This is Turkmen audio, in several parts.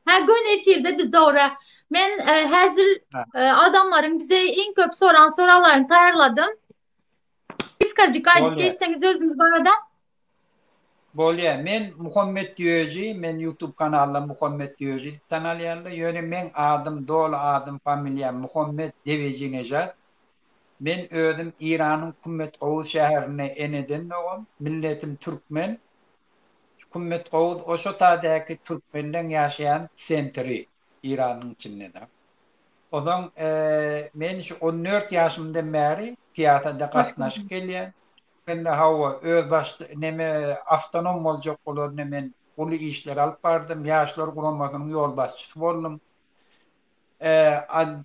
Ha gün efirde biz dogry. Men e, häzir e, adamlaryň bize iň köp soran soraglaryny taýýarladym. Kysgajyk aýdyp Bolýar. geçseňiz özüňiz barada. Bolýar. Men Muhammet Ýöji, men YouTube kanalynda Muhammet Ýöji diýip tanalýarlar. Ýöne meň adym, doly adym, familiýam Muhammet Dewejinejad. Men özüm Iranyň Kummet Gowuz şäherinde eneden dogum, milletim türkmen. Şu Kummet Gowuz Oşotadäki türkmenleň ýaşaýan sentri, Iranyň içinde-de. Onsoň men şu on dört ýaşymdan bäri syýasata gatnaşyp gelýän. Mende hawa, özbaşdak neme, awtonom boljak bolarynda men uly işleri alyp bardym, Ýaşlar guramasynyň ýolbaşçysy boldum.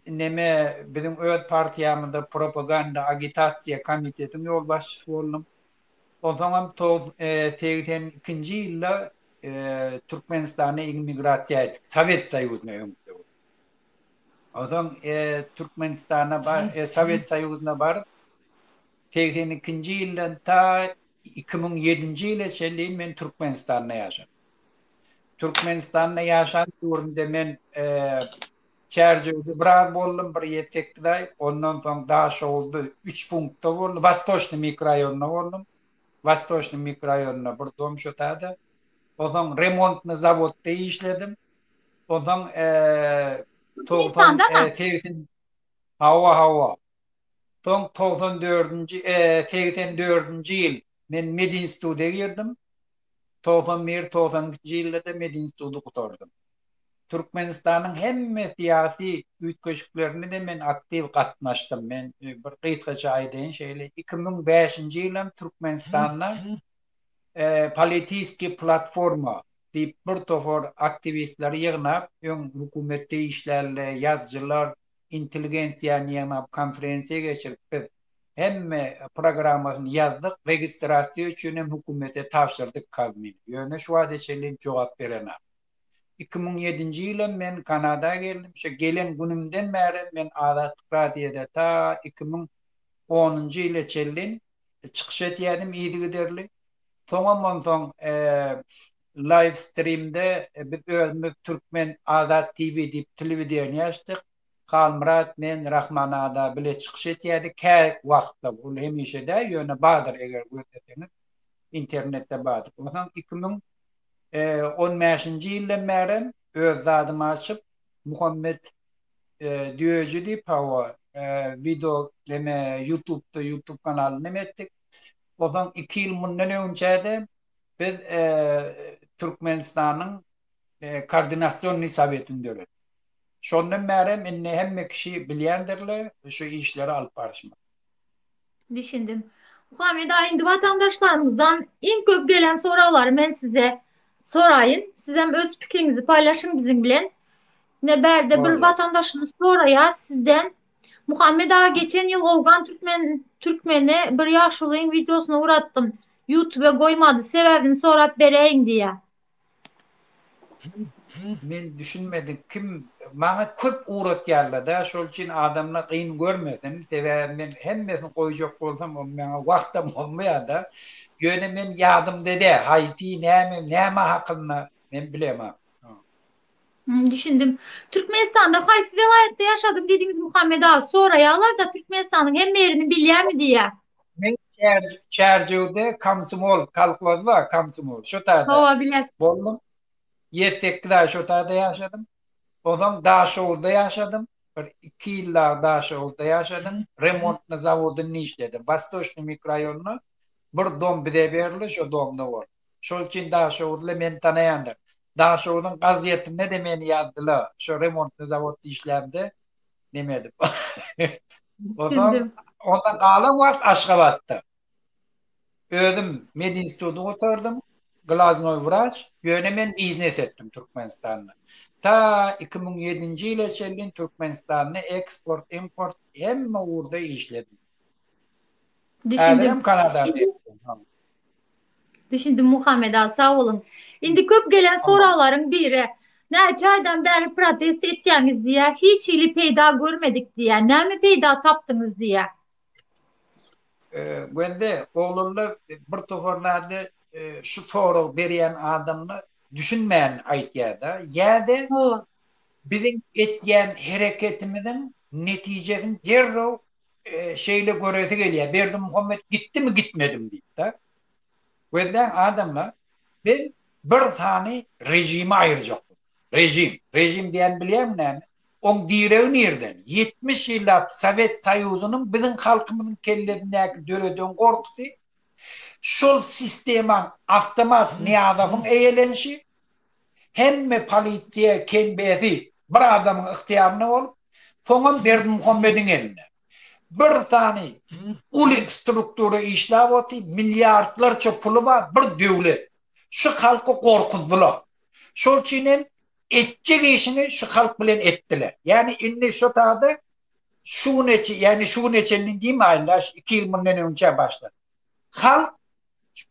Neme, biziň öz partiýamyzda propaganda, agitasiýa komitetiň ýolbaşçysy boldum. Onsoňam toguz segsen ikinji ýylda Türkmenistana immigrasiýa etdik, Sowet Soýuzyna öňki döwür. Onsoň Türkmenistana Sowet Soýuzyna baryp, segsen ikinji ýyldan ta iki müň ýedinji ýyla çenli men Türkmenistanda ýaşadym. Türkmenistanda ýaşan döwrümde men Çärjewde biraz boldum, bir ýetekdaý, ondan soň Daşoguzda üç punktda boldum, Wostoçnyý mikroraýonynda boldum. Wostoçnyý mikroraýonynda bir dom şotada. Onsoň remontnyý zawodda işledim. Onsoň togsan segsen Hawa, hawa. Soň togsan dördünji, segsen dördünji ýyl men medinstituta girdim. Togsan bir, togsan ikinji ýylda-da medinstudy gutardym. Türkmenistanyň hemme syýasy üýtgeşiklerine de men aktiw gatnaşdym. Men bir gysgaça aýdaýyn şeýle, iki müň bäşinji ýylam Türkmenistanda Politiskiý platforma diýip bir topar aktiwistleri ýygnap, öň hökümetde işlärler, ýazyjylar, intelligensiýany ýygnap konferensiýa geçirip biz hemme programmasyny ýazdyk, registrasiýa üçin hem hökümete tabşyrdyk Kazmini, ýöne şu wagta çenli jogap berenok. Iki müň ýedinji ýylam men Kanada geldim, şo gelen günümden bärem men Azatlyk radiýada ta iki müň onunjy ýyla çenli çykyş edýädim yzygiderli. Soňam onsoň live streamde biz özümiz Türkmen Azat TV diýip telewideniýe açdyk. Halmyrat, men, Rahman aga bile çykyş edýädik kä wagtda. Ol hemişe däl, ýöne bardyr eger gözleseňiz internetde bardyr. Onsoň iki müň on bäşinji ýyldan bärem öz zadymy açyp Muhammet düýeji diýip hawa wideo neme ýutubda ýutub kanaly neme etdik. Ozan iki ýyl mundan öňçäde biz Türkmenistanyň Koordinasionnyý Sowetini döretdik. Şondan bärem indi hemme kişi bilýändirler şu işleri alyp baryşymyzy. Düşündim. Muhammed ağa indi watandaşlarymyzdan iň köp gelen soraglary men size soraýyn. Sizem öz pikiriňizi paýlaşyň biziň bilen. Ne bärde bir Tabii. watandaşymyz soraýar sizden. Muhammed ağa geçen ýyl Owgan türkmen türkmeni bir ýaşulyň wideosyny uratdym. YouTube goýmady sebäbini sorap beräýiň diýýär. Men düşünmedim kim maňa köp ugratýarlada şol üçin adamla gyn görmedim sebäbi men hemmesini goýjak bolsam on maňa wagtam bolmaýada ýöne men ýadymda dä haýsy näme näme hakynda men bilemok. Düşündim. Türkmenistanda haýsy welaýatda ýaşadyň diýdiňiz Muhammet aga? Soraýarlar-da Türkmenistanyň hemme ýerini bilýämi diýýär. Men Çärjewde komsomol, kolhoz bar, komsomol. Şo taýda. Hawa, bilen. Boldum. 7-8 aý şo taýda ýaşadym. Ondan Daşoguzda ýaşadym. Bir iki ýyllap Daşoguzda ýaşadym. Remontny zawodynda işledim. Wastoçnyý mikrorayonynda bir dom bize berildi, şo domda boldum. Şol üçin Daşoguzly meni tanaýandyr. Daşoguzyň gazetinde-de meni ýazdylar. Şo remontny zawodda işlämde neme edip. O zaman onda galan wagt Aşgabatda. Özüm medinstituty gutardym. Glaznoý wraç. Ýöne men biznes etdim Türkmenistanda. Ta iki müň ýedinji ýyla çenli Türkmenistanda eksport, import hemme ugurda işledim. Düşündim. Düşündim Muhammet aga sag boluň. Indi köp gelen soraglaryň biri. Näçe aýdan bäri protest etýäňiz diýýär. Hiç hili peýda görmedik diýýär. Näme peýda tapdyňyz diýýär. Bende oglanlar bir topar zady şu sorag berýän adamlar düşünmän aýtýarda. Ýa-da biziň etýän hereketimiziň netijesini derrew şeýle göresi gelýär, Berdimuhamet gitdimi, gitmedimi diýip-de. Gözläň, adamlar, biz bir sany režimi aýyrjak bolduk. Režim, režim diýýäni bilýäňmi näme? Oň diregi nirden? Ýetmiş ýyllap Sowet Soýuzynyň biziň halkymyzyň kellesindäki döreden gorkusy, şol sistemaň, awtomat Nyýazowyň eýelenişi, Hemme polisiýa kembesi bir adamyň ygtyýarynda bolup, soňam Berdimuhamediň elinde. Bir sany uly struktura işläp otyr, milliardlarça puly bar, bir döwlet. Şu halky gorkuzdylar. Şol üçin hem etjek işini şu halk bilen etdiler. Ýagny indi şu sada şu güne, ýagny şu güne çenli diýmäýin-le, iki ýyl mundan öňçä başlap. halk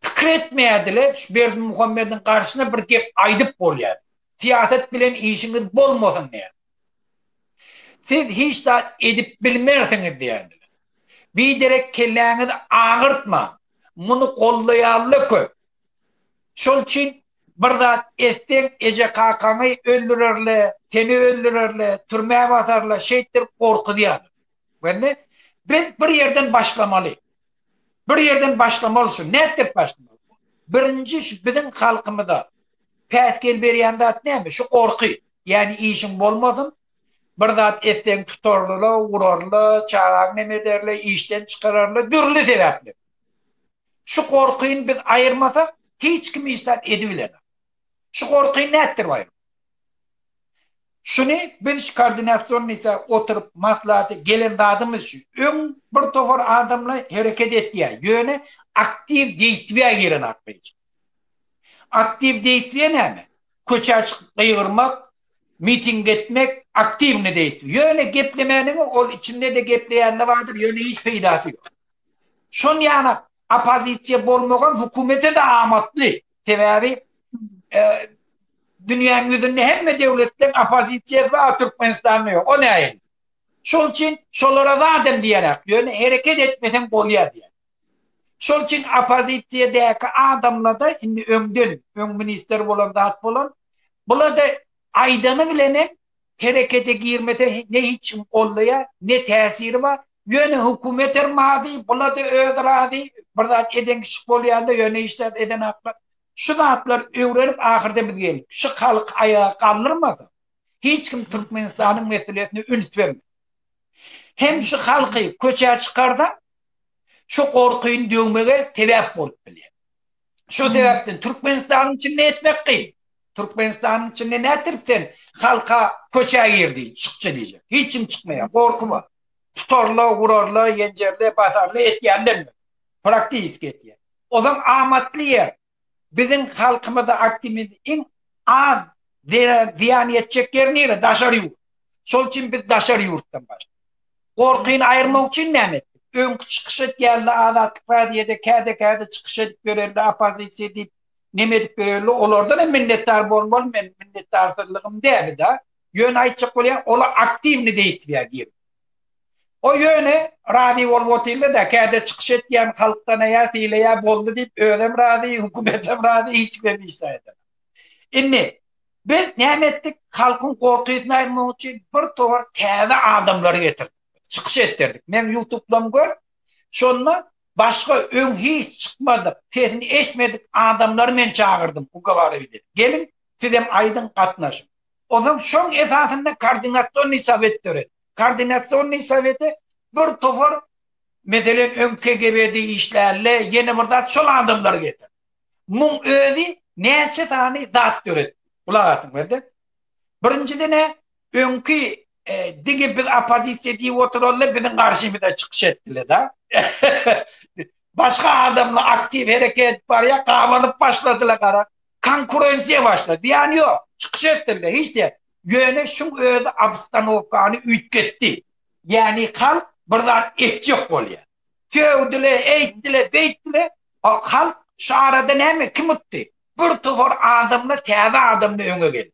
pikir etmeýärdile, şu Berdimuhamediň garşyna bir gep aýdyp bolýar. Syýasat bilen işiňiz bolmasyn diýýär. Siz hiç zat edip bilmersiňiz diýýärdiler. Biderek kelläňizi agyrtmaň. Muny gollaýanla köp. Şol üçin bir zat etseň eje-kakaňy öldürerler, seni öldürerler, türmä basarlar, şeýtdir gorkuzýarlar. Gördiňmi? Biz bir ýerden başlamaly. Bir ýerden başlamaly şu. Nätdirip başlamaly? Birinji şu biziň halkymyza päsgel berýän zat näme? Şu gorky. Ýani işiň bolmasyn, bir zat etseň tutarlyla, urarla, çagaň nem ederle, işden çykararla, dürli sebäpler. Şu gorkyny biz aýyrmasak, hiç kim hiç zat edibilenok. Şu gorky nätdir baýam? Şuny biz koordinasionnysa oturyp maslahaty gelen zadymyz şu. Öň bir topar adamla hereket etýä, ýöne aktiw deýstwýa giren zat däl. Aktiw deýstwýa näme? Köçä çykyp gygyrmak, miting etmek aktiwny deýstwýa. Ýöne geplemäniňi ol içinde-de gepleýänler bardyr, ýöne hiç peýdasy ýok. Şon ýana oppozisiýa bolmagam hökümete-de amatly. Sebäbi dünýäniň ýüzünde hemme döwletden opozisiýasy bar, a Türkmenistanda ýok. O nähili? Şol üçin şolara zadam diýerak, ýöne hereket etmeseň bolýar diýýär. Şol üçin opozisiýadäki adamlarda indi öňden, öň ministr bolan zat bolan, bularda aýdany bilenem Herekete girmese ne hiçim gollaýa ne täsiri bar ýöne hökümet her mazy bulada özi razy bir zat eden kişi bolýanda ýöne hiç zat eden haklar şu zatlar öwrenip ahyrda biz geldik şu halky aýaga galdyrmasa hiç kim türkmenistanyň meselesine üns bermez hem şu halky köçä çykarsaň şu gorkyny döwmege sebäp bolup bilýär. Şo sebäpden Türkmenistanyň içinde etmek kyn. Türkmenistanyň içinde nätdirip sen halka köçä gir diý, çykja diýjek. Hiç kim çykmaýar, gorky bar. Tutarla, urarla, ýenjerle, basarla etýänler ýok. Praktiski etýän. Ozan amatly ýer. Biziň halkymyza aktimizm iň az zyýan ýetjek ýeri nire? Daşary ýurt. Şol üçin biz daşary ýurtdan başladyk. Gorkyny aýyrmak üçin näme etdik? Öňki çykyş edýärler Azatlyk Radioda, käde-käde çykyş edip ýörerler, oppozisiýa diýip, neme edip ýörerler, olardan hem minnetdar bolmaly, meniň minnetdarsyzlygym däbi-de. Ýöne aýtjak bolýan, olar aktiwnyý deýswiýa girdi. O ýöne razy bolup otyrlar-da, käde çykyş etýän halkdan aýa sylaýar, boldy diýip, özem razy, hökümetem razy, hiç kimem hiç zaýat edemok. Indi, Biz näme etdik? Halkyň gorkysyny aýyrmak üçin bir towar täze adamlary getirdik. Çykyş etdirdik. Meň ýutublam gör. Şonda başga öň hiç çykmadyk, sesini eşitmedik adamlary men çagyrdym, ugowarili. Geliň, sizem aýdyň, gatnaşyň. Onsoň şoň esasynda koordinasionnyý sowet döretdik. Koordinasionnyý sowete bir towar, meselem, öň KGB-de işlänle, ýene bir zat, şol adamlary getirdik. Muň özi näçe sany zat döretdi. Gulak asyň berde. Birinjidene öňki diňe biz oppozisiýa diýip oturanda biziň garşymyza çykyş etdiler da. Başga adamlar aktiw hereket edip barýar, gabanyp başladylar gara. Konkurensiýa başlady. Ýany ýok. Çykyş etdiler, hiç diýen. Ýöne şuň özi obstanowkany üýtgetdi. Ýany halk bir zat etjek bolýar. döwdüle, eýtdile, beýtdile. Halk şu arada näme kim utdy? Bir topar adamla täze adamla öňe geldi.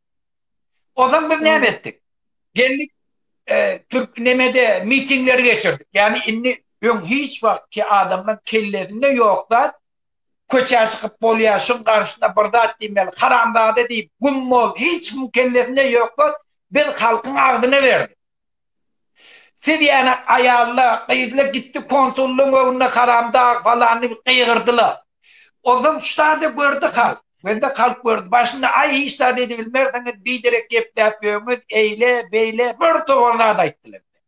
Ozan biz näme etdik? Geldik e, Türk nemede mitingleri geçirdik. Yani indi ön hiç vakti adamla kellesinde yok da köçe çıkıp bolya şun karşısında bir zat diymeli haramzade deyip gum bol hiç kim kellesinde yok da biz halkın ağzına verdik. Siz ýane aýalla gyzla gitdi konsullyň öňünde haramdag falan diýip gygyrdyla. Ozal şu zady gördi halk. Bende halk gördi. Başynda aý hiç zat edibilmersiňiz biderek gepläp ýöňiz eýle beýle bir togan zat aýtdyla bize.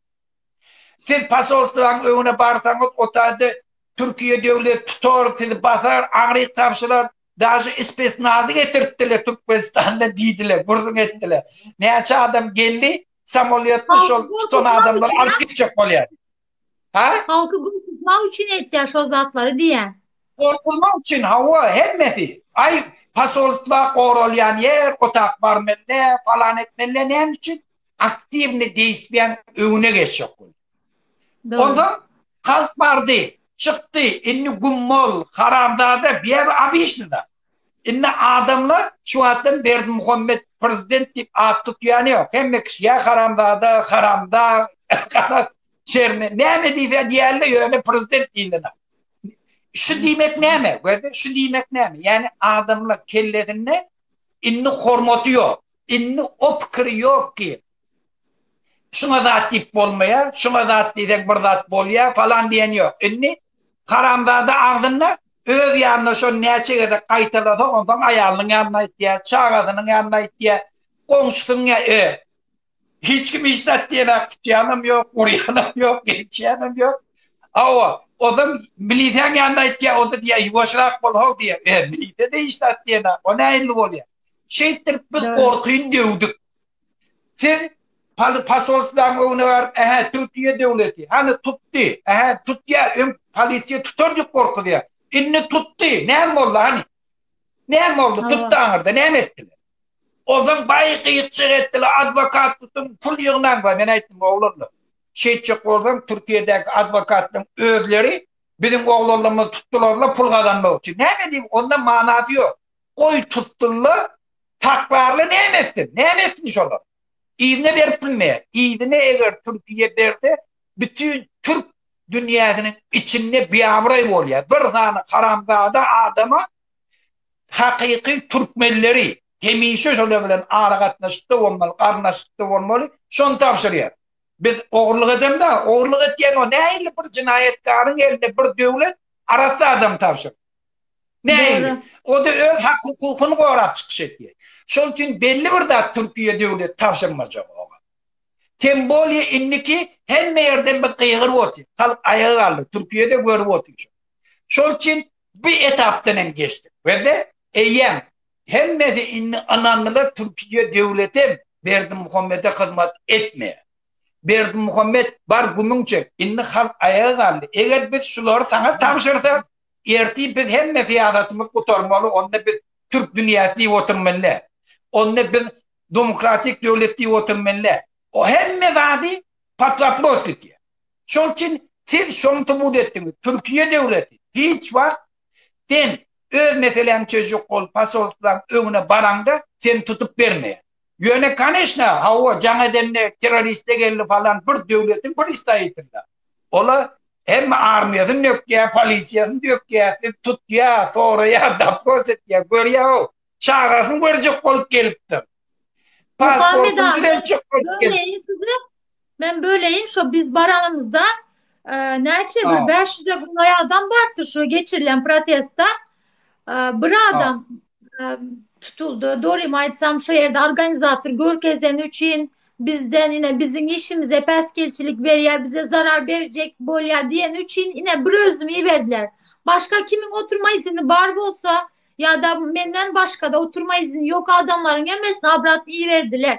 Siz posolstwaň öňüne barsaňyz otade Türkiýe döwlet tutar sizi basar aňryk tabşyrar daže ispesnazy getirtdile Türkmenistandan diýdile gürrüň etdile. Näçe adam geldi Samolýotda şol tutan adamlary alyp gitjek bolýar. Ha? Halky gurtulmak üçin etýär şol zatlary diýýär. Gurtulmak üçin hawa hemmesi. Aý, posolstwa goralýan ýer, otak barmelle, palan etmelle näme üçin? Aktiwny deýspýan öňüne geçjek bolýar. Onda halk bardy, çykdy, indi gummol, haramzada, bir abi işdi da. Indi adamlar şu wagtdan Berdimuhammet prezident diýip at tutýany ýok. Hemme kişi ýa haramzada, haramdag, gara çerni näme diýse diýeli ýöne prezident diýilene. Şu diýmek näme? Gördün, şu diýmek näme? Ýani adamlar kellesinde indi hormaty ýok. Indi o pikir ýok ki, Şuňa zat diýip bolmaýar, şuňa zat diýseň bir zat bolýar falan diýen ýok. Indi haramzada agzynda öz ýanyna şony näçe gezek gaýtalasa onsoň aýalynyň ýanyna aýtýar, çagasynyň ýanyna aýtýar, goňşusynyň ýa e. Hiç kim hiç zat diýenak tutýanam ýok, urýanam ýok, geçýänem ýok. Hawa, ozan miliseň ýanyna aýtýar, oda diýýär ýuwaşrak bol how diýýär. E, milise-de hiç zat diýenak, o nähilli bolýar. Şeýtdirip biz gorkyn döwdük. Siz Paly pasolstwaň öňüne baryp, ähä Türkiýe döwleti, hany tutdy, ähä tutýa, öň polisiýa tutar diýip gorkuzýa. Indi tutdy, näme boldy hany? Näme boldy? Tutdy aňyrda, näme etdi? Ozan baý gyýykçyk etdiler, adwokat tutuň, pul ýygnaň baý. Men aýtdym, oglanlar, şeýtjek bolsaň Türkiýedäki adwokatlaryň özleri biziň oglanlarymyzy tutdular-la pul gazanmak üçin. Näme edip, onda manasy ýok. goý tutsunlar, takrarly näme etsin, näme etsin şolar? Yzyna berip bilmeýär. Yzyna eger Türkiýe berse, bütin türk dünýäsiniň içinde biabraý bolýar. Bir sany haramzada adama hakyky türkmenleri hemişe şolar bilen aragatnaşykda bolmaly, garyndaşlykda bolmaly, şony tabşyrýar. Biz ogurlyk edemda, ogurlyk etýän o nähili bir jinaýatkaryň eline bir döwlet arassa adamy tabşyrdy? Nähili? O-da öz hak-hukukyny gorap çykyş edýär. Şol üçin belli bir zat Türkiýe döwleti tabşyrmajak oňa. Tem bolýa indiki hemme ýerden biz gygyryp otyrys. Halk aýaga galdy. Türkiýe-de görüp otyr şony. Şol üçin bu etapdan hem geçdik. Biz-de eýýäm hemmesi indi ynandylar Türkiýe döwleti Berdimuhamede hyzmat etmeýär. Berdimuhamet bar gümüň çek. Indi halk aýaga galdy. Eger biz şulary saňa tabşyrsak, Ertir biz hemme syýasatymyzy gutarmaly, onda biz türk dünýäsi diýip oturmaly, onda biz demokratik döwlet diýip oturmaly. O hemme zady pod wopros gidýär. Şoň üçin siz şony subut etdiňiz, Türkiýe döwleti hiç wagt sen öz meseläňi çözjek bolup posolstwaň öňüne baraňda seni tutup bermeýär. Ýöne koneşna hawa jaň edende terroriste geldi falan bir döwletiň pristaýitynda. Ola hemme armiýasyn nökýä polisiýasyn dökýä siz tutýa soraýa dapgos etýä görýä haw çagasyn görjek bolup gelipdir. Pasportyny düzeltjek bolup gelipdir. Men böleýin, şo biz baranymyzda näçe bir 500-e golaý adam bardy şu geçirilen protestde. Bir adam tutuldy. Dorim aýtsam, şu ýerde organizator görkezeni üçin bizden ine biziň işimize päsgelçilik berýär, bize zarar berjek bolýar diýeni üçin ine bir özümi iberdiler. Başga kimiň oturma izni bar bolsa, ýa-da menden başga-da oturma izni ýok adamlaryň hemmesini abrat iberdiler.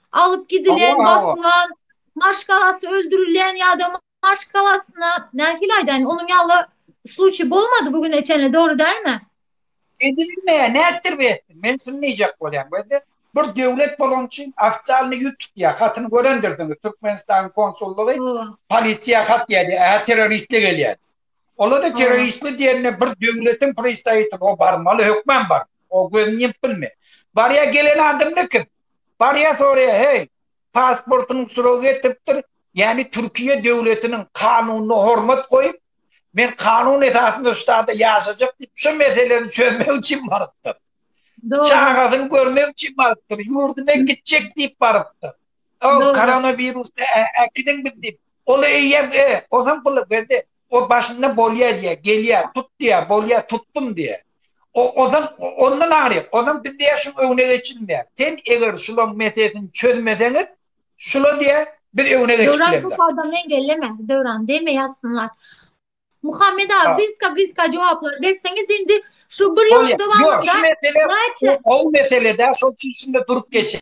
Alyp gidilen, basylan, maşgalasy öldürilen ýa-da maşgalasyna, nähili aýdaýyn, onuň ýaly sluçi bolmady bu güne çenli, dogry dälmi? Edilmeýär, nätdir bu etdi? Men şuny diýjek bolýan, gözle, bir döwlet bolan üçin ofitsialny ýüz tutýar, hatyny görendirsiňiz, Türkmenistanyň konsullygy polisiýa hat ýazýar, hä, terroristler gelýär. Olar-da terroristler diýende bir döwletiň pristawitligi, o barmaly, hökman barmaly, o gözüni ýymmyp bilme. Barýar, gelen adamlar kim? Barýar soraýar, heý, pasportynyň suragy getiripdir, ýagny Türkiýe döwletiniň kanunyna hormat goýup, men kanun esasynda şu ştada ýaşajak diýip, şu meseleni çözmek üçin barypdyr. Çagasyny görmek üçin barypdyr, ýurduna gitjek diýip barypdyr. O koronawirusda äkidin biz diýip, ol eýýäm, e, ozam pul berdi. O başynda bolýa diýýär, gelýä, tut diýýär, bolýa, tutdum diýýär. O ozan ondan aýryk, ozan biz diýýär şuň öňüne geçilmeýär. Sen eger şulaň meselesini çözmeseňiz, şula diýýär, biz öňüne geçip bilemzok. Döwran bu sada men gelleme, Döwran deme ýazsynlar. Muhammet aga gysga gysga jogaplar berseňiz indi şu bir ýylyň dowamynda. Ýok şu mesele gowy mesele däl şoň üçin şunda durup geçeýin.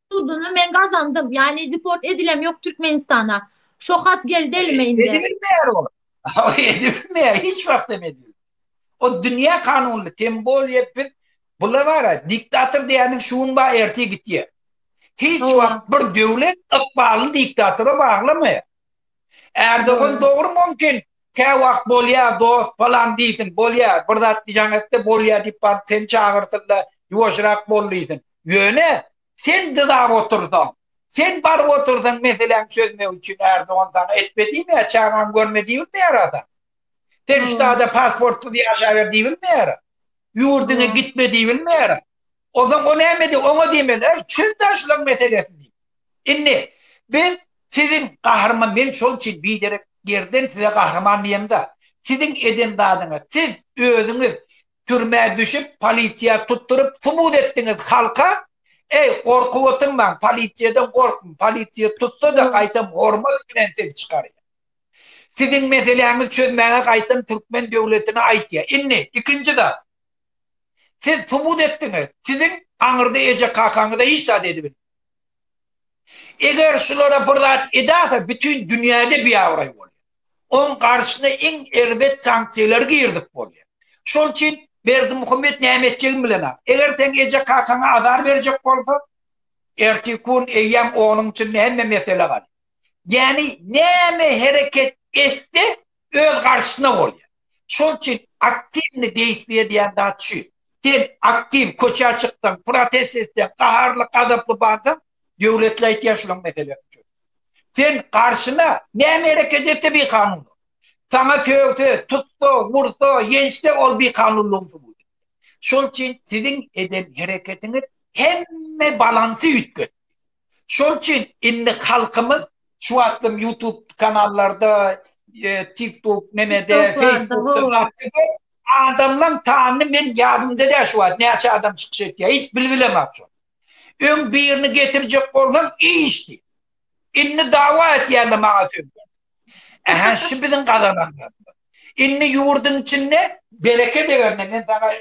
Suduny men gazandym. Yani deport edilem yok Türkmenistana. Şo hat geldi elime indi. Edilmeýär ol. Edilmeýär, hiç wagt hem edilmeýär. O dünýä kanunyny tem bolýar biz bular bara diktator diýeniň şu gün bar ertir gitýär. Hiç wagt bir döwlet ykbalyny diktatora baglamaýar. Erdogan dogry mümkin kä wagt bolýa dost falan diýsin bolýa bir zat diýjäň etde bolýa diýip baryp seni çagyrsynda ýuwaşrak bol diýsin ýöne sen dyzap otursaň sen baryp otursaň meseläň çözmek üçin Erdogan saňa etme diýmeýär çagaň görme diýilmeýär ada sen şu hmm. ada pasportsyz ýaşaber diýilmeýär ýurdyňa hmm. gitme diýilmeýär Ozan o nämedi oňa diýmeli äý çöl daşlaň meselesini diýip. Indi biz siziň gahryman men şol üçin biderek gerden size gahryman diýemda siziň eden zadyňyz siz özüňiz türmä düşüp polisiýa tutduryp subut etdiňiz halka äý gorkup oturmaň polisiýadan gorkun polisiýa tutsada gaýtam hormat bilen siz çykarýar siziň meseläňiz çözmäge gaýtam türkmen döwletine aýtýar indi ikinji zat Siz subut etdiňiz, siziň aňyrda eje-kakaňyza hiç zat edibilmedi. Eger şulara bir zat edäse bütin dünýäde biabraý bolýar. Oň garşyna iň erbet sanksiýalary girdip bolýar. Şol üçin Berdimuhamet näme etjegini bilenok. Eger seň eje-kakaňa azar berjek bolsa, ertir kun eýýäm onuň içinde hemme mesele galýar. Ýagny näme hereket etse öz garşyna bolýar. Şol üçin aktiwny deýspy edýän zat şu. Sen aktiw köçä çyksaň, protest etseň, gaharly, gazaply barsaň, döwletle aýtýar şulaň meselesini çöz. Sen garşyna näme hereket etse bikanun ol. Saňa sögse, tutsa, ursa, ýençse ol bikanunlygyň subut. Şol üçin siziň eden hereketiňiz hemme balansy üýtgetdi. Şol üçin indi halkymyz şu wagtlam YouTube kanallarda, tik tok nemede, feýsbukda gaty köp. Adamlaň sanyny men ýadymda däl şu wagt näçe adam çykyş etýär, hiç bilgilemok şony. Öň birini getirjek bolsam iş diýip. Indi dawa etýände maňa söz berdiler. Aha, şu biziň gazananlarymyz. Indi ýurduň içinde bereke degende men saňa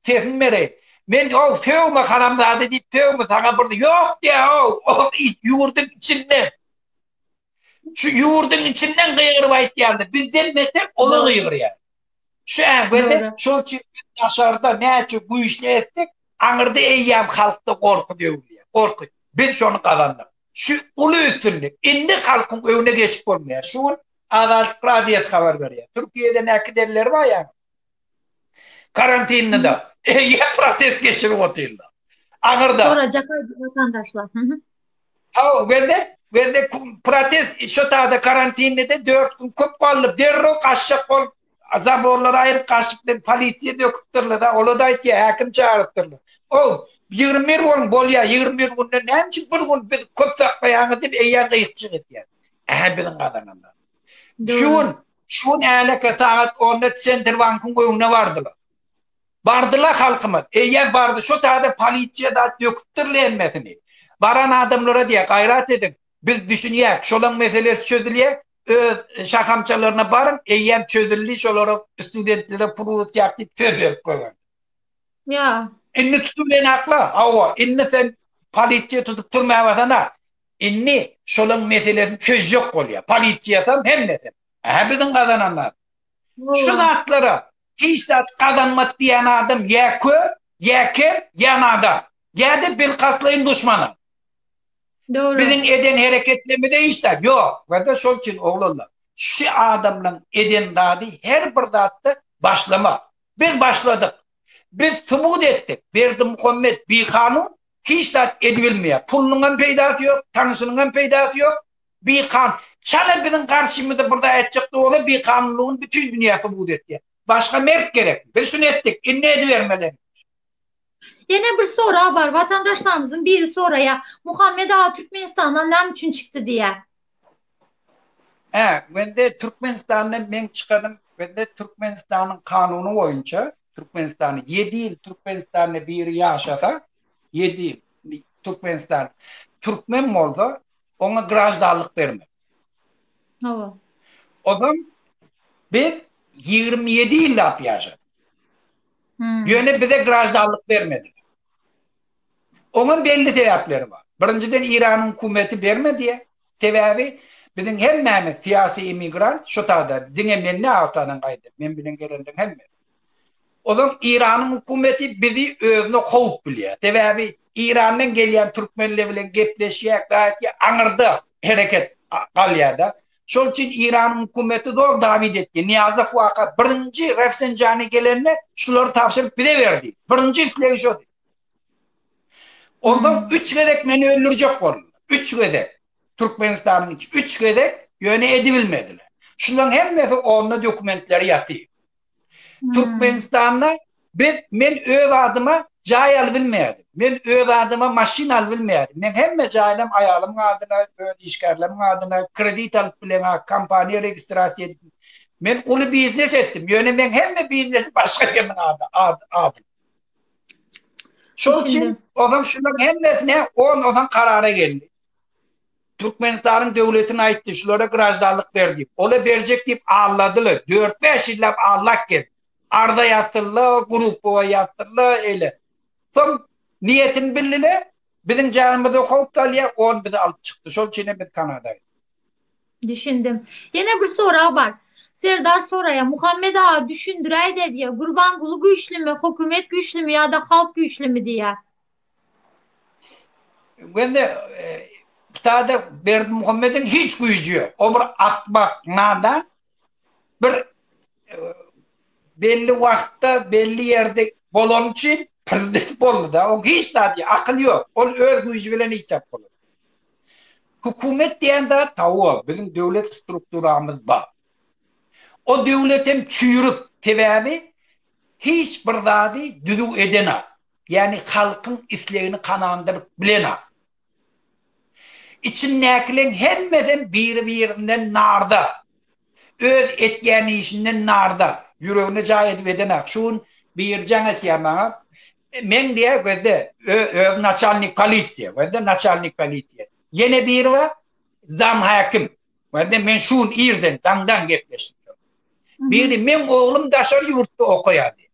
sesini bereýin. Men o sögme haramzada diýip sögme saňa bir ýok diýä o, o ýurduň içinde. Şu ýurduň içinden gygyryp aýtýarlar. Bizden beter olar gygyrýar. Şu ähwedi şol çirkin daşarda näçe güýçli etsek, aňyrda eýýäm halkda gorky döwülýär. Gorky. Biz şony gazandyk. Şu uly üstünlik. Indi halkyň öňüne geçip bolmaýar. Şu gün Azatlyk Radiosy habar berýär. Türkiýede näki deliler bar ýa. Karantinlida. Eýýäm protest geçirip otyrlar. Aňyrda. Sorajak watandaşlar. Hawa, gözle, gözle protest şu taýda karantinde de 4 gün köp galdy. Derrew gaçjak bolup, zaborlary aýryp gaçyp, polisiýa döküpdirler-de, olar da aýtýar, häkim çagyrypdyrlar. Ow, 21 gün bolýar, 21 günde näme üçin bir gün biz köp saklaýaňyz diýip, eýýäm gyýykçylyk edýär. Ähä biziň gazananlar. Şu gün, şu gün älek sagat onda Senterbankyň öňüne bardylar. Bardyla halkymyz, eýýäm bardy şo taýda polisiýa zat döküpdir lemmesini. Baran adamlara diýýär, gaýrat ediň, biz düşünýäs, şolaň meselesi çözülýär, öz şahamçalaryna baryň, eýýäm çözüldi, şolara studentlere pul ugrutýarys diýip söz berip goýberdi. Ýa. Indi tutup bilen akla, hawa, indi sen polisiýa tutup türmäbasana, indi şolaň meselesini çözjek bolýar, polisiýasam, hemmesem. Hä biziň gazananlarymyz. Şu zatlara hiç zat gazanmaz diýen adam ýa kör, ýa ker, ýa nadan, ýa-da bilkastlaýyn duşmana. Dogry. Biziň eden hereketlerimizde hiç zat ýok. Wada şol üçin oglanlar, şu adamlaryň eden zady her bir zatda başlamak. Biz başladyk. Biz subut etdik. Berdimuhammet bikanun hiç zat edibilmeýär. Pulunyňam peýdasy ýok, tanyşynyňam peýdasy ýok. Bikan, çala biziň garşymyza bir zat etjek bolsa bikanunlygyny bütin dünýä subut etýär. Başga mert gerek. Biz şuny etdik, indi edibermeli. Ýene bir sorag bar, watandaşlarymyzyň biri soraýar, Muhammet aga Türkmenistandan näme üçin çykdy diýýär. Hä, bende Türkmenistandan meň çykanym, bende Türkmenistanyň kanuny boýunça, Türkmenistany ýedi ýyl Türkmenistanda biri ýaşasa, ýedi ýyl Türkmenistan türkmen bolsa, oňa graždanlyk bermek. Hawa. Ozan biz 27 ýyllap ýaşadyk. Hmm. Ýöne bize graždanlyk bermedi. Oňa belli sebäpleri bar. Birinjiden Iranyň hukumeti bermedi. Sebäbi biziň hemmämiz syýasy emigrant, şu taýda diňe mende awtadan gaýdy. Men bilen gelenler hemme. Ozal Iranyň hökümeti bizi özüne howp bilýär. Sebäbi Irandan gelýän türkmenler bilen gepleşýäk, gaýtýa aňyrda hereket galýar-da. Şol üçin Iranyň hökümeti zor dawid etdi. Nyýazow waka birinji Rafsenjani gelende şulary tabşyryp bize berdi. Birinji islegi şody. Onsoň üç gezek meni öldürjek boldular. Üç gezek. Türkmenistanyň içi üç gezek ýöne edibilmediler. Şularyň hemmesi onda dokumentleri ýatyr. Türkmenistanda biz men öz adyma jaý alybilmedim. Men öz adyma maşyn alybilmedim. Men hemme jaýlam aýalymyň adyna, öz işgärlerimiň adyna kredit alyp bileňa, kompaniýa registrasiýa edip. Men uly biznes etdim. Ýöne men hemme biznesi başga biriniň ady. Şol üçin ozal şularyň hemmesine on ozal karara geldi. Türkmenistanyň döwletiň aýtdy şulara graždanlyk ber diýip. Ola berjek diýip alladyla dört bäş ýyllap allak gezdi. Arza ýazdylla grupowa ýazdylla eýle. Soň niýetini billile biziň janymyza howp salýa on bizi alyp çykdy şol üçinem biz kanada gitdik. Düşündim. Ýene bir sorag bar. Serdar soraýa Muhammet aga düşündiräýdä diýä Gurbanguly güýçlimi hökümet güýçlimi ýada halk güýçlimi diýä. Wende Ptada Berdi Muhammedin hiç güýji ýok. O bir akmak, nadan bir e, belli wagtda, belli ýerde bolan üçin prezident boldy da. O hiç zat ýok, akyl ýok. Ol öz güýji bilen hiç zat boldy. Hukumet diýen zat tawa, biziň döwlet strukturamyz bar. O döwlet hem çüýrük, sebäbi hiç bir zady düzüw edena. Ýagny halkyň islegini kanandyryp bilenok. Içindäkileriň hemmesem biri-birinden narda. Öz etýän işinden narda. Ýüregine jaý edip edenak. Şu gün Birjan etýär maňa. Meň diýýär gözde öz naçalnik polisiýa. Gözde naçalnik polisiýa. Ýene biri bar. Zam häkim. Gözde men şu gün irden daňdan gepleşdim. Biri meň oglum daşary ýurtda okaýar diýýär.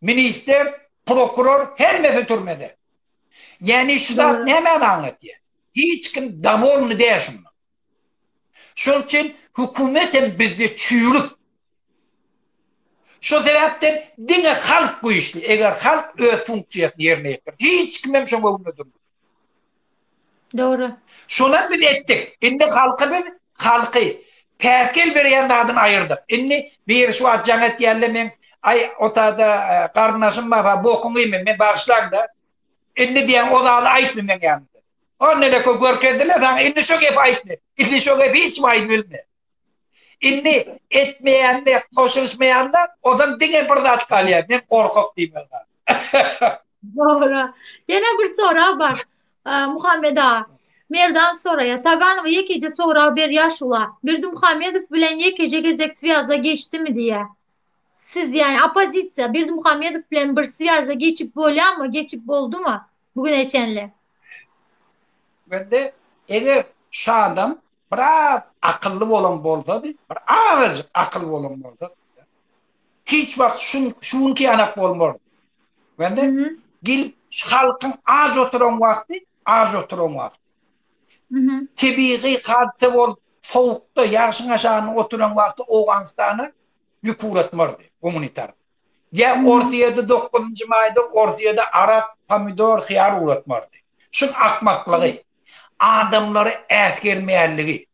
Ministr, prokuror hemmesi türmede. Ýani şu zat nämäni aňlatýar? Hiç kim dawolny däl şundan. Şol üçin hökümet hem bizde çüýrük. Şo sebäpden diňe halk güýçli. Eger halk öz funksiýasyny ýerine ýetirse, hiç kim hem şoň öňünde durmaz. Dogry. Şonam biz etdik. Indi halky biz halky päsgel berýän zadyny aýyrdyk. Indi biri şu wagt jaň etýärle men aý otada garyndaşym barha bokuňy iýmen men bagyşlaňda indi diýen o zady aýtmy meň ýanymda. O neleko görkezdiler saňa indi şo gepi aýtmy. Indi şo gepi hiç kim aýdybilme. Indi etmeýänine goşulyşmaýanda ozan diňe bir zat galýar. Men gorkak diýmek bar. Dogry. Ýene bir sorag bar. Muhammed aga. Merdan soraýar. Taganowa ýekeje sorag berýär şu wagt. Berdimuhamedow bilen ýekeje gezek swýaza geçdimi diýýär. Siz ýa oppozisiýa Berdimuhamedow bilen bir swýaza geçip bolýarmy, geçip boldumy bu güne çenli? Bende eger şu adam biraz akylly bolan bolsady, bir azajyk akyl bolan bolsady, hiç wagt şun, şu günki ýanak bolmardy. Bende gelip halkyň aç oturan wagty, aç oturan wagty. Tebigy hadise bol, sowukda, ýagşyň aşagynda oturan wagty Owganystana ýük ugratmardy gumanitar. Ýa Orsýede 9-njy maýda Orsýede arak, pomidor, hyýar ugratmardy. Şun akmaklygy. adamlary äsgermeýänligi.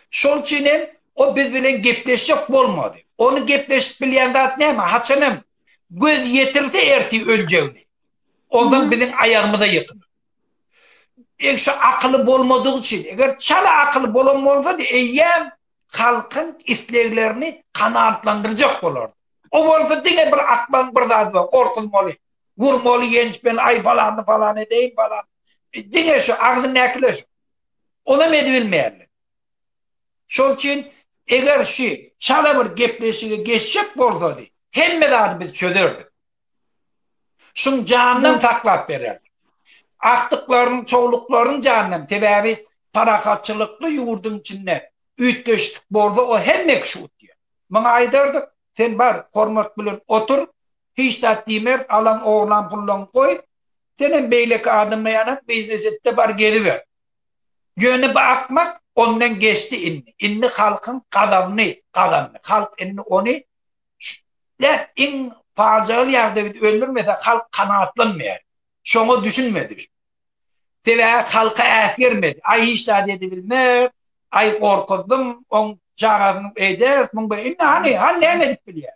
Şol üçin hem o biz bilen gepleşjek bolmady. Ony gepleşip bilýän zat näme? Haçanam göz ýetirse ertir öljegini. Ondan biziň aýagymyza ýykylyp. Eý şu akyly bolmadygy üçin. Eger çala akyly bolan bolsady eýýäm halkyň isleglerini kanaatlandyrjak bolardy. O bolsa diňe bir akmagyň bir zady bar, gorkuzmaly. Gurmaly genç men aý palany palan edeýin palan diňe şu agzyňdakylar şu. Onam edibilmeýärler. Şol üçin eger şu çala bir gepleşige geçjek bolsady hemme zady biz çözerdik. Şuň janynam saklap bererdik. Agtyklaryň, çowluklaryň janynam sebäbi parahatçylykly ýurduň içinde üýtgeşik bolsa o hemme kişi utýar. Muňa aýdardyk sen bar hormat bilen otur Hiç zat diýmeris alan oglan pullaň goý senem beýleki adama ýanak biznes etde bar geziber. Ýöne bu akmak ondan geçdi indi. Indi halkyň gazabyny gazandy. Halk indi ony däp iň pajygaly ýagdaýda öldürmese halk kanagatlanmaýar. Şoňa düşünmedi. Sebäbi halka äsgermedi. Aý hiç zat edibilmez, aý gorkuzdym, oň çagasyny eýderis, muň indi hany, hany näme edip bilýär.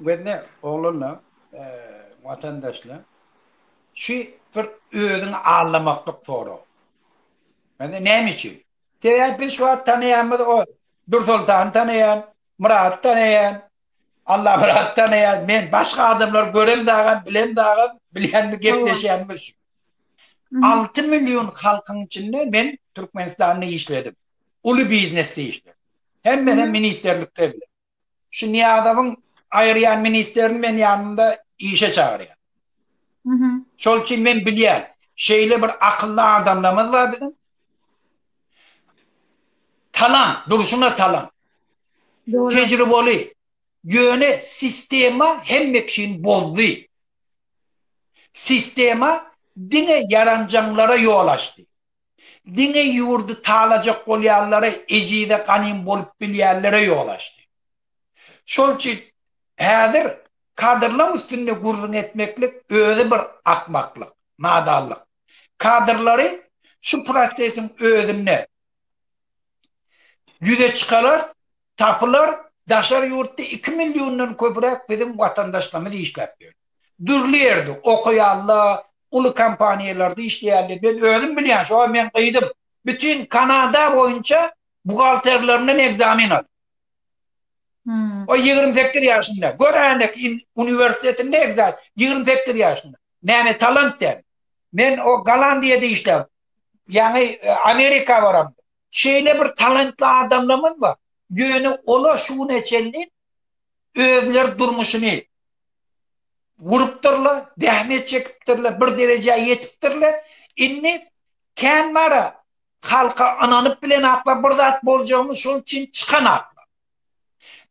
Gözne ogluna, watandaşla, şu bir özüňi allamaklyk sorag. Indi näme üçin? Sebäbi biz şu wagt tanaýanymyz o Dursoltany tanaýan, Myrady tanaýan, Allamyrady tanaýan, men başga adamlary görem dagam, bilem dagam, bilýänmi gepleşýänmi şu. 6 million halkyň içinde men Türkmenistanda işledim. Uly biznesde işledim. Hemmesem ministrlikde bile. Şu Niýazowyň aýyrýan ministrini men ýanymda işe çagyrýan. Şol üçin men bilýän, şeýle bir akylly adamlarymyz bar biziň. Talan, durşuna talan. Dogry. Tejribeli. Ýöne sistema hemme kişini bozdy. Sistema diňe ýaranjaňlara ýol açdy. Diňe ýurdy talajak bolýanlara ejize ganym bolup bilýänlere ýol açdy. Şol üçin häzir kadrlaň üstünde gürrüň etmeklik özi bir akmaklyk, nadanlyk. Kadrlary şu prosesiň özünde ýüze çykarar. Tapylar daşary ýurtda iki milliondan köpräk biziň watandaşlarymyz işläp ýör. Dürli ýerde, okaýalla, uly kompaniýalarda işleýälle. Men özüm bilýän, şoňa meň gyzym bütin Kanada boýunça buhgalterlerinden ekzamen aldy. O ýigrimi sekiz ýaşynda. Gör änek in uniwersitetinde ekzam, ýigrimi sekiz ýaşynda. Näme talant däl. Men o Gollandiýada işläp, ýaňy Amerika baram. Şeýle bir talantly adamlarymyz bar. Ýöne olar şu güne çenli özleri durmuşyny gurupdyrlar, zähmet çekipdirler, bir derejä ýetipdirler. Indi kän bar-a, halka ynanyp bilenaklar, bir zat boljagyny şol üçin çykanaklar.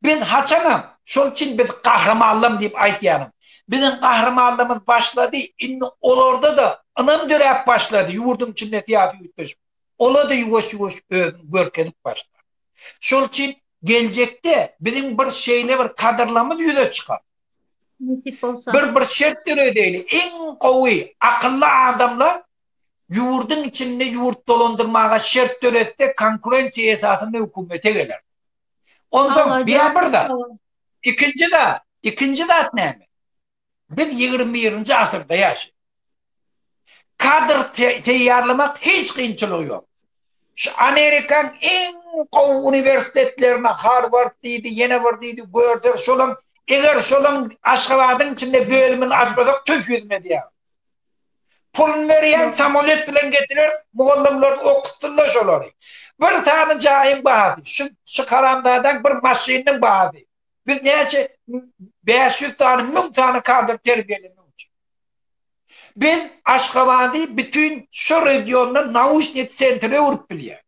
Biz haçanam, şol üçin biz gahrymanlarym diýip aýdýaryn. Biziň gahrymanlygymyz başlady, indi olarda-da ynam döräp başlady ýurduň içinde syýasy üýtgeşme. ola-da ýuwaş-ýuwaş özüni görkezip başlar. Şol üçin geljekde biziň bir şeýle bir kadrlamyz ýüze çykar. Nesip bolsa. Bir bir şert döredeli, iň gowy, akylly adamlar ýurdyň içinde ýurt dolandyrmaga şert döretse konkurensiýa esasynda hökümete geler. Onda bir zat. Ikinji zat, ikinji zat näme? Biz ýigrimi birinji asyrda ýaşaýarys. Kadr teýýarlamak hiç kynçylygy ýok. Şu Amerikaň iň gowy uniwersitetlerine Harward diýdi, ýene bir diýdi, görder şolaň, eger şolaň Aşgabadyň içinde bölümini açmasak tüf ýüzüne diýýärin. Puluny berýäň, samolet bilen getireris, mugallymlaryny okutsunlar şolary. Bir sany jaýyň bahasy, şu haramzadaň bir maşynynyň bahasy. Biz näçe 500 sany, 1000 sany kadr terbiýelemek üçin. Biz Aşgabady bütin şu regionda nauşnik sentre öwrüp bilýär.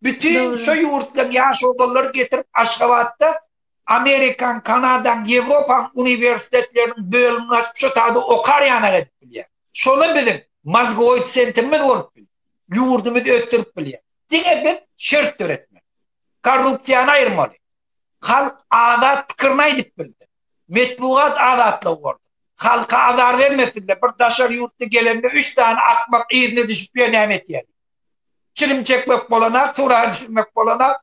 Bütin şu ýurtdan ýaş obalylar getirip Aşgabatda Amerikan, Kanadan, Ýewropan uniwersitetleriniň bölümini açyp şu taýda okar ýanak edip bilýär. Şola biziň mozgoid sentrimiz bolup bilýär. Ýurdumyzy ösdürip bilýär. Diňe biz şert döretmeli. Korrupsiýany aýyrmaly. Halk azat pikirini aýdyp bildi. Metbugat azatlygy boldy. Halka azar bermesinler, bir daşary ýurtly gelende üç sany akmak yzyna düşüp ýör näme etýädi. Çilim çekmek bolanak, suraga düşürmek bolanak,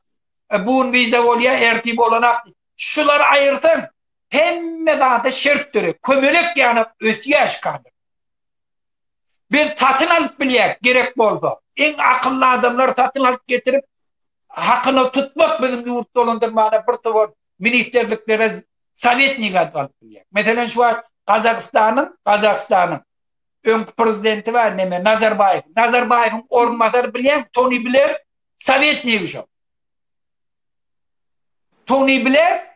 bun wiza bolýa, ertir bolanak diýip. Şulary aýyrsaň hemme zada şert döreýär. Kömelek ýanap ösýär şu kadr. Biz satyn alyp bilýäs, gerek bolsa. Iň akylly adamlary satyn alyp getirip, hakyna tutmak biziň ýurt dolandyrmana bir towar ministrliklere sowetnik adyp alyp bilýäs. Meselem, şu wagt Gazagystanyň, Gazagystanyň öňki prezidenti bar, neme, Nazarbaýew. Nazarbaýewiň orunbasary bilýäňmi, Toni Bler sowetnik şo. Toni Bler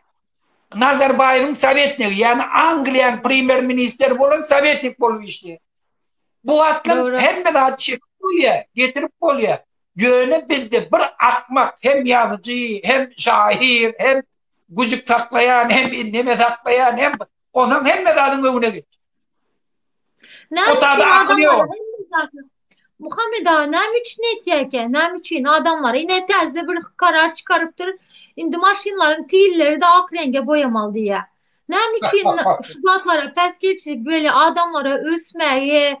Nazarbaýewiň sowetnigi, ýagny Angliýanyň premýer-ministri bolan sowetnik bolup işleýär. Bu wagtlar hemme zat çekip bolýar, getirip bolýar. Ýöne bizde bir akmak hem ýazyjy, hem şahyr, hem güjük saklaýan, hem indeme saklaýan, hem Onsoň hemme zadyň öňüne geç. Otagda akyl ýok. Muhammed aga näme üçin etýärkä? Näme üçin adamlar ine täze bir karar çykarypdyr. Indi maşynlaryň tilleri de ak reňge boýamaly diýýär. Näme üçin şu zatlara päsgelçilik böyle adamlara ösmäge,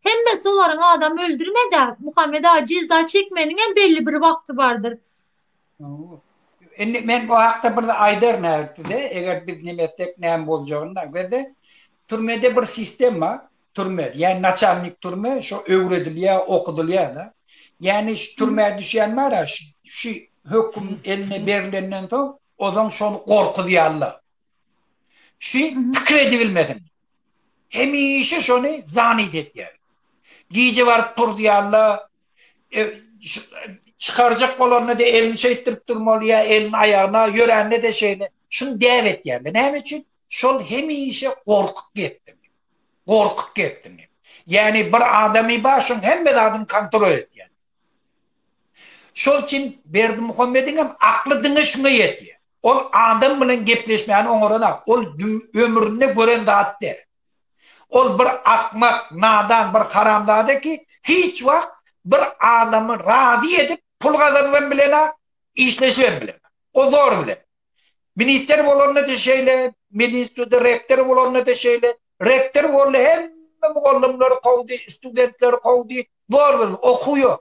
Hemmesi olaryň adam öldürmedi-ä. Muhammet aga jeza çekmeniňem belli bir wagty bardyr. Indi men bu hakda bir aýdaryn häzirkide, eger biz neme etsek näme boljagyny da. Bizde türmede bir sistem bar. Türme, ýa naçalnik türme, şo öwredilýär, okudylýar-da. Ýani şu türmä düşýän bar-a, şu höküm eline berlenden soň, ozan şony gorkuzýarlar. Şu pikir edibilmesini. Hemişe şony zanit etýär. Gije baryp turdyýanda e, çykarjak bolanda-da elini şeýtdirip durmaly ýa elini aýagyna ýörände-de şeýle. Şuny däp etýärler. Näme üçin? Şol hemişe gorkup gepdi. Gorkup gepdi. Ýani bir adamy başyň hemme zadyny kontrol etýär. Şol üçin Berdimuhammediň hem akly diňe şuňa ýetýär. Ol adam bilen gepleşmäni oňaranok, ol dü ömründe gören zat däl. Ol bir akmak, nadan bir haramzada ki, hiç wagt bir adamy razy edip pul gazanybam bilenok, işleşibem bilenok. O zor bilen. Minister bolanda-da şeýle, medinstitutda rektor bolanda-da şeýle. Rektor boldy, hemme mugallymlary kowdy, studentleri kowdy, zor bilen, okuw ýok.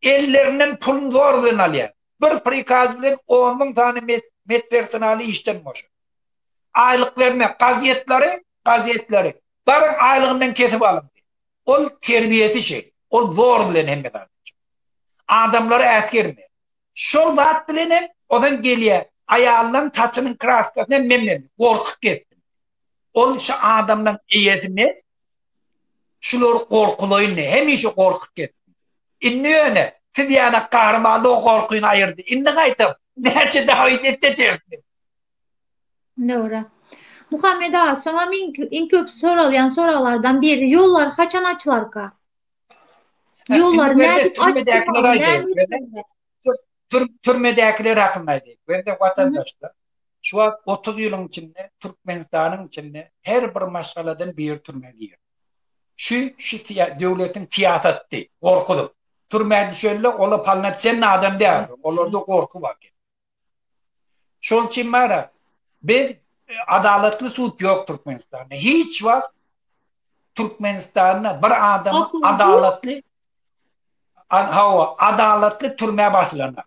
Ellerinden puluny zor bilen alýar. Bir prikaz bilen on müň sany medpersonaly işden boşar. Aýlyklaryna gazetleri, gazetleri, baryň aýlygyndan kesip alyň diýer. Ol terbiýesi şeýle. Ol zor bilen hemme zady. Adamlary äsgermeýär. Şol zat bilen hem ozan gelýär. Aýalynyň saçynyň kraskasyny hem men berdim. Gorkup gitdim. Ol şu adamlaryň eýesi men. Şulary gorkulaýyn diýip, hemişe gorkup gitdim. Indi ýöne siz ýaly gahrymanlygy gorkyny aýyrdy. Indi gaýtam näçe dawid etse çekdim. Dogry. Muhammet aga, soňam iň köp soralýan soraglardan biri, ýollar haçan açylarka? Ýollar nädip açdylar? Türmedäkiler hakynda aýdaýyn. Gözde watandaşlar, şu wagt otuz ýylyň içinde Türkmenistanyň içinde her bir maşgaladan biri türmä girdi. Şu şu döwletiň syýasaty, gorkudyp. Türmä düşende ola palna sen adam däldiň, olarda gorky bar. Şol üçin bara biz adalatly sud ýok Türkmenistanda. Hiç wagt Türkmenistanda bir adam adalatly hawa adalatly türmä basylandyr.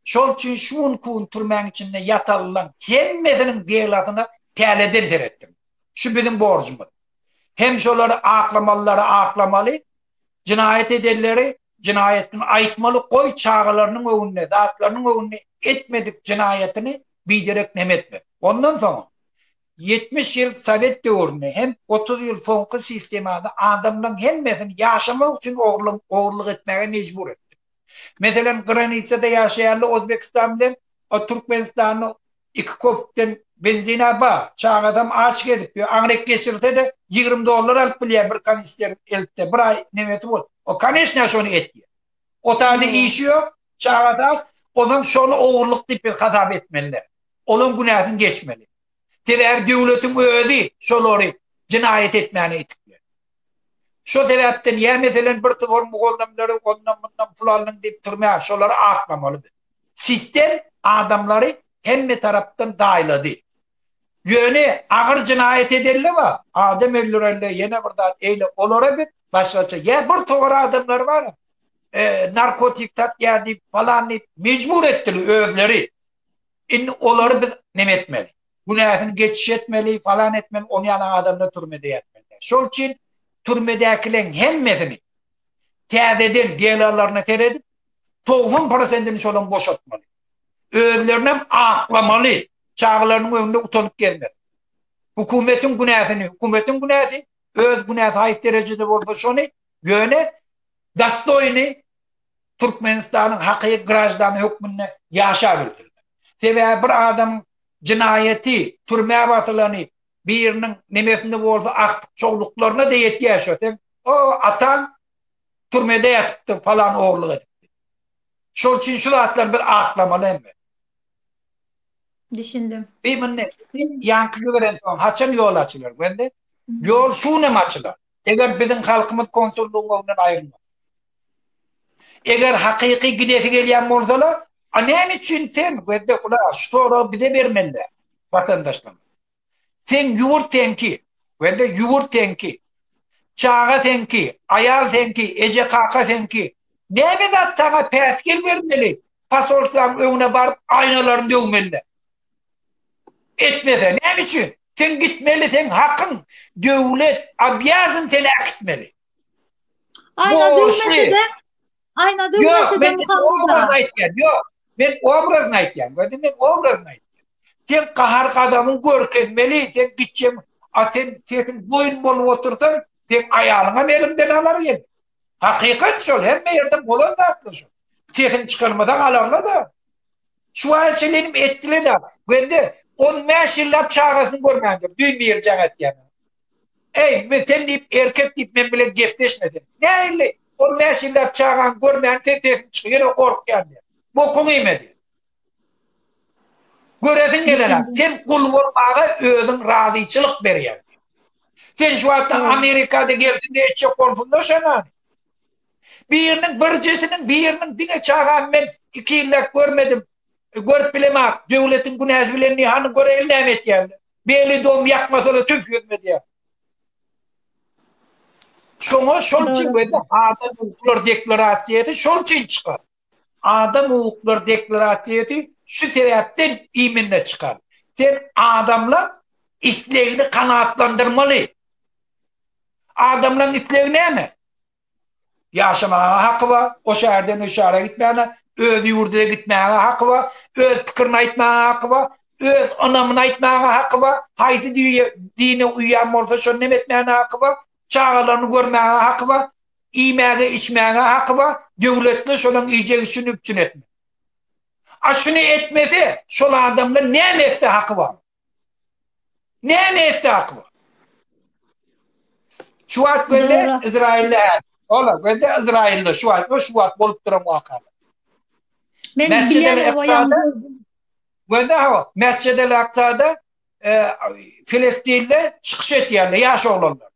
Şol üçin şu gün kun türmäň içinde ýatalylan hemmesiniň delasyna täleden seretdim. Şu biziň borjumyz. Hem şolary aklamalylary aklamaly, Jinaýat edenleri jinaýatyny aýtmaly goý çagalarynyň öňünde zatlarynyň öňünde etmedik jinaýatyny biderek nem etmez. Ondan soňam ýetmiş ýyl sowet döwründe hem otuz ýyl soňky sistemada adamlaň hemmesini ýaşamak üçin ogurlyk etmäge mejbur etdi. Meselem, granitsada ýaşaýanly Ozbekistan bilen Türkmenistanly iki köpükden benzin-ä bar. Çagasam aç gezip ýör. Aňryk geçirse-de, ýigrimi dollar alyp bilýär bir kanister eltse. Bir aý nemesi bol. O, koneçnä, şony etýär. Otady işi ýok, çagasy aç. Onsoň şony ogurlyk diýip biz hasap etmeli-dä. Olam günäsini geçmeli. Sebäbi döwletiň özi şolary jenaýat etmäne ýetik biler. Şo sebäpden ýa meselem bir towar mugallymlary ondan-mundan pul alnyň diýip türmä şolary atlamaly biz. Sistem adamlary hemme tarapdan daýlady. Ýöne agyr jenaýat edelle bar, adam öldürelle ýene bir zat eýle olara biz başgaça ýa bir towar adamlary bar narkotik satýar diýip falan diýip mejbur etdili özleri. Indi olary biz neme etmeli? Günäsini geçiş etmeli, falan etmeli, ony ýaly adamlar türmede ýatmaly däl. Şol üçin türmedäkileriň hemmesini täzeden delolaryna seredip, togsan prosentini şolaryň boşatmaly. Özlerinem aklamaly, çagalarynyň öňünde utanyp gezmeli. Hukumetiň günäsini, hukumetiň günäsi, öz günäsi haýsy derejede bolsa şony, ýöne dostoýny, Türkmenistanyň hakyky graždany hökmünde ýaşap bilsinler. Sebäbi bir adamyň jynaýaty, türmä basylany, biriniň nemesini bolsa agtyk-çowluklaryna-da ýetýär şo. Sen, O, ataň türmede ýatypdy, palan ogurlyk edipdi. Şol üçin şu zatlary biz aklamaly hemme. Düşündim. Biz indi ýaňky jiberen soň haçan ýol açylar, Gwende? Ýol şu gün hem açylar. Eger biziň halkymyz konsullygyň öňünden aýrylmasa. Eger hakyky gidesi gelýän bolsalar, a näme üçin sen Gözde gula şu soragy bize bermeliler, watandaşlar. Sen ýurt seňki, Gözde ýurt seňki. Çaga seňki, aýal seňki, eje kaka seňki. Näme zat saňa päsgel bermeli, posolstwaň öňüne baryp aýnalaryny döwmeliler. Etmese näme üçin? Sen gitmeli, sen hakyň. Döwlet obýazyn seni äkitmeli. Aýna döwmese-de, aýna döwmese-de mukamda. Ýok, men obrazyny aýtýan. Gördüň, men obrazyny aýtýan. Sen gahar-gazabyn görkezmeli, sen gitjem, a sen sesiň boýun bolup otursaň, sen aýalyňam eliňden alar ýene. Hakykat şol, hemme ýerde bolan zatlar şol. Sesiň çykarmasaň alarlar-da. Şuwaýeçilenim etdiler da, göndi, on bäş ýyllap çagasyny görmändir, düýn biri jaň etýäne. Eý, men sen diýip, erkek diýip, men bilen gepleşme sen. Nähili, on bäş ýyllap çagaň görmän sen sesiň çyk, ýöne gorkýan diýýä. Bokuň iýmedi. Göresiň gelene, sen gul bolmaga özüň razyçylyk berýäň. Sen şu wagtda Amerikada gelsin diýip etjek bolsuňda şonany. Biriniň birjesiniň biriniň diňe çagamy men iki ýyllap görmedim. Görüp bilemok. Döwletiň günäsi bilen ni hanyň göreýli näme etýänini. Beli dom ýakmasada tüf ýüzüme edýär. Şoňa şol üçin göýde adam hukuklar deklarasiýasy şol üçin çykar. Adam hukuklar deklarasiýasy şu sebäpden iýminde çykar. Sen adamlar islegini kanaatlandyrmaly. Adamlaryň islegi näme? Ýaşamaga haky bar, o şäherden o şähere gitmäne, öz ýurduna gitmäge haky bar, öz pikirini aýtmaga haky bar, öz ynamyny aýtmaga haky bar, haýsy dine uýýan bolsa şony hem etmäne haky bar, çagalaryny görmäge haky bar, iýmäge, içmäge haky bar, döwletli şolaň iýjek işini üpjün etmek. A şuny etmese, şol adamdan näme etse haky bar? Näme etdi Akyba? Şu wagt gözle Izrailde hä. Ola gözle Izrailde şu wagt, şu wagt bolup duran waka. Men bilen oýanda gözle ha, mesjide laqtada e, Filistinde çykyş etýärler ýaş oglanlar.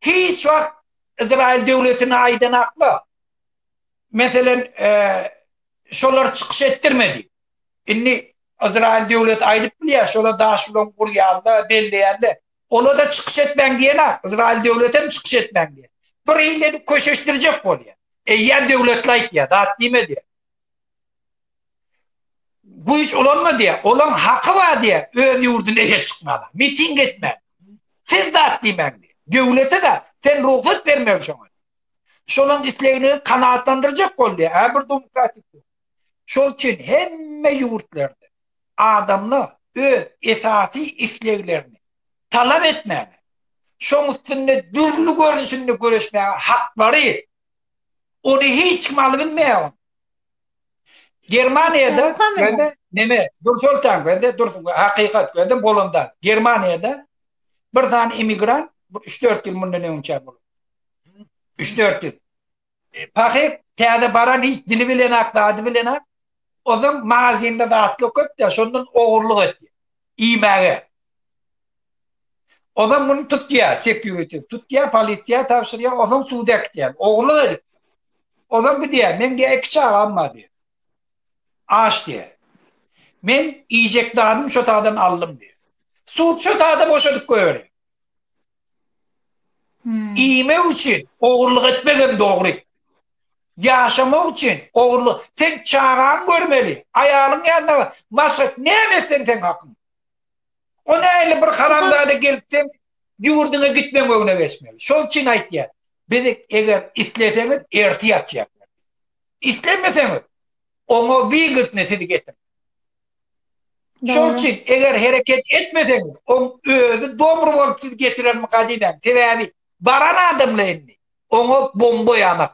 Hiç wagt Izrail döwletine aýdan akba. Meselen, e, şolar çykyş etdirmedi. Indi Izraýyl döwleti aýdyp bilýär, şola daş bilen gurýan-da, belleýän-de. Ola-da çykyş etmäň diýen-ä, Izraýyl döwletem çykyş etmäň diýen. Bir ýyl edip köşeşdirjek bolýar. Eýýäm döwletli aýtýar, zat diýme diýýär. Güýç ulanma diýýär. Olaň haky bar diýýär, öz ýurduna eýe çykmaga, miting etmäge. Siz zat diýmäň diýýär. Döwlete-de sen rugsat bermeli şoňa. Şolaň islegini kanagatlandyrjak bol diýýär. Hä bir demokratik. Şol üçin hemme ýurtlarda adamlar öz esasy isleglerini talap etmäge, şoň üstünde dürli görnüşinde göreşmäge haklary, ony hiç kim alyp bilmeýär ony. Germaniýada göni neme, Nursultan göni dur, hakykat göni bolanda, Germaniýada bir sany immigrant üç-dört ýyl mundan öňçä bolup, üç-dört ýyl, Pahy täze baran hiç dili bilenak, zady bilenak. Ozan magazinde zatlar köp-de, şondan ogurlyk etýär. Iýmäge. Ozan muny tutýar, sekýuriti. Tutýar, polisiýa tabşyrýar, ozan suda äkitýär. Ogurlyk edip. Ozan gidýär, meň diýýär, iki çagam bar diýýär. Aç diýýär. Men iýjek zadymy şo taýdan aldym diýýär. Sud şo taýda boşadyp goýberýär. Iýmek üçin ogurlyk etmegem dogry. Ýaşamak üçin ogurlyk. Sen çagaňy görmeli, aýalyň ýanynda maşgala näme etseň seň hakyň. O nähili bir haramzada gelip seň ýurduňa gitmeň öňüne geçmeli. Şol üçin aýtýan. Biz eger isleseňiz ertir ýatýarys. Islemeseňiz oňa wigiltne sizi getirip. Şol Dogry. üçin eger hereket etmeseň, oň özi dobry bolup sizi getirermika diýmän. Sebäbi baran adamla indi oňa bomba ýanak.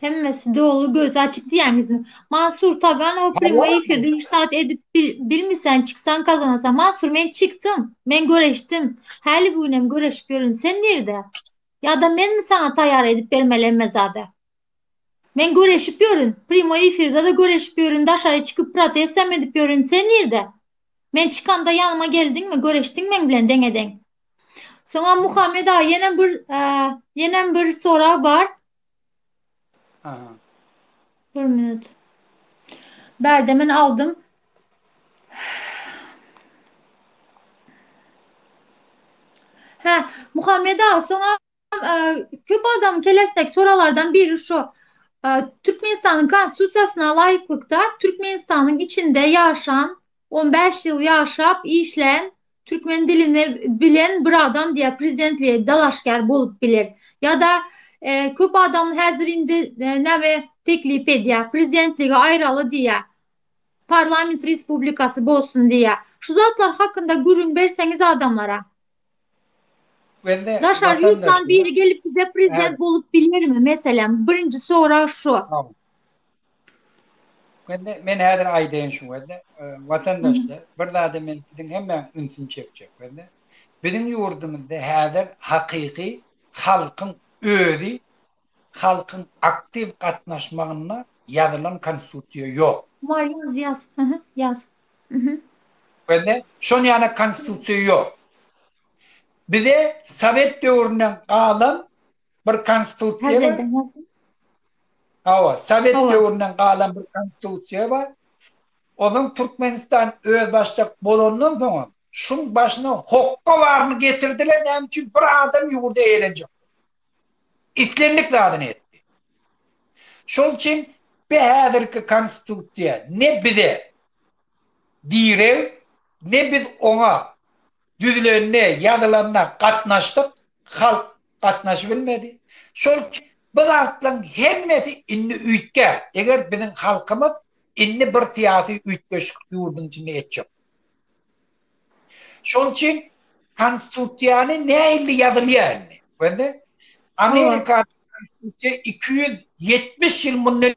Hemmesi doly gözi açyk diýýäňizmi? Mansur Taganowa prýomoý efirde hiç zat edip bil- bilmiseň, çyksaň gazanasaň. Mansur, men çykdym. Men göreşdim. Häli bu gün hem göreşip ýörün. Sen nirde? Ýa-da menmi saňa taýýar edip bermeli hemme zady? Men göreşip ýörün, primoý efirde-de göreşip ýörün, daşary çykyp protestam edip ýörün, sen nirde? Men çykamda ýanyma geldiňmi, göreşdiň meň bilen deňe-deň? Soňam Muhammet aga ýenem bir ýenem bir sorag bar. Aha. Bir minut. Bärde men aldym. Hä, Muhammet aga, soňam Köp adam kelesdek soralardan biri şu. Türkmenistanyň konstitusiýasyna laýyklykda Türkmenistanyň içinde ýaşan, 15 ýyl ýaşap, işlän, türkmen dilini bilen bir adam diýä prezidentlige dalaşgär bolup biler. Ýa-da köp adam häzir indi näme teklip edýär, prezidentligi aýraly diýýär. Parlament respublikasy bolsun diýýär. Şu zatlar hakynda gürrüň berseňiz adamlara. Daşary ýurtdan biri gelip bize prezident bolup bilermi? Meselem, birinji sorag şu. Wende men häzir aýdaýyn şu wende watandaşlar bir zada men siziň hemmäň ünsüni çekjek wende. Biziň ýurdumyzda häzir hakyky halkyň özi halkyň aktiw gatnaşmagynda ýazylan konstitusiýa ýok. Maryýaz ýaz aha ýaz mhm. Bende şon ýana konstitusiýa ýok. Bize sowet döwründen galan bir konstitusiýa bar. Häzirden ýaz. Hawa, sowet döwründen galan bir konstitusiýa bar. Ozan Türkmenistan özbaşdak bolandan soňam şuň başyna hokga baryny getirdiler näme üçin bir adam ýurdy eýelenjek. Islendik zadyny etdi. Şol üçin bi häzirki konstitusiýa ne bize direg, ne biz oňa düzülende, ýazylanda gatnaşdyk, halk gatnaşybilmedi. Şol üçin bu zatlaryň hemmesi indi üýtgä, eger biziň halkymyz indi bir syýasy üýtgeşik ýurduň içinde etjek. Şonuň üçin konstitusiýany näilli ýazylýar indi. Gördüňizmi? Amerika konstitusiýa 270 ýyl mundan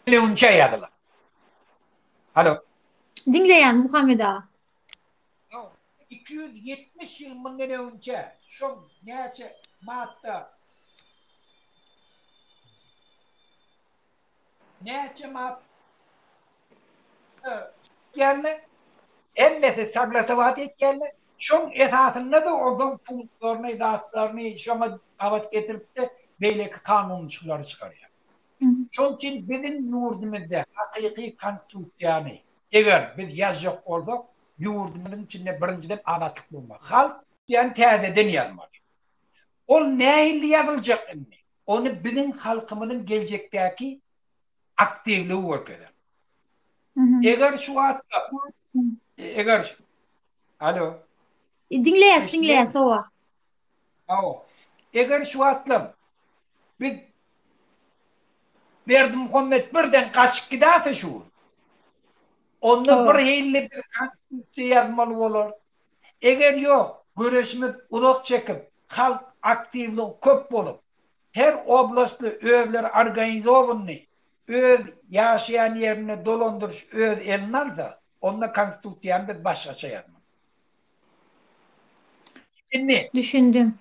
öňçe ýazylan. Halo. Diňleýän Muhammet aga. Ýok, iki ýüz ýetmiş ýyl mundan öňçä, şoň näçe madda, näçe mad geldi, hemmesi saglasowat etýärler, şoň esasynda-da ozaň punktlaryny, zatlaryny şoňa gabat getirip-de beýleki kanunçyklary çykarýar. Şoň üçin biziň ýurdumyzda hakyky Konstitusiýany, Eger biz ýazjak bolsak, ýurdumyzyň içinde birinjiden azatlyk bolmaly. Halk diýýän täzeden ýazmaly. Ol nähili ýazyljak indi? Ony biziň halkymyzyň geljekdäki aktiwligi görkezer. Eger şu wagtda, eger, alo. Diňleýäs, diňleýäs, hawa. Hawa. Eger şu wagtlam biz Berdimuhammet birden gaçyp gidäse şu gün, onda bir hilli bir konstitusiýa ýazmaly bolar. Eger ýok, göreşimiz uzak çekip, halk aktiwligi köp bolup, her oblastly özleri organizowanyny öz ýaşaýan ýerinde dolandyryş öz eline alsa, onda konstitusiýany biz başgaça ýazmaly. Düşündi. Düşündim.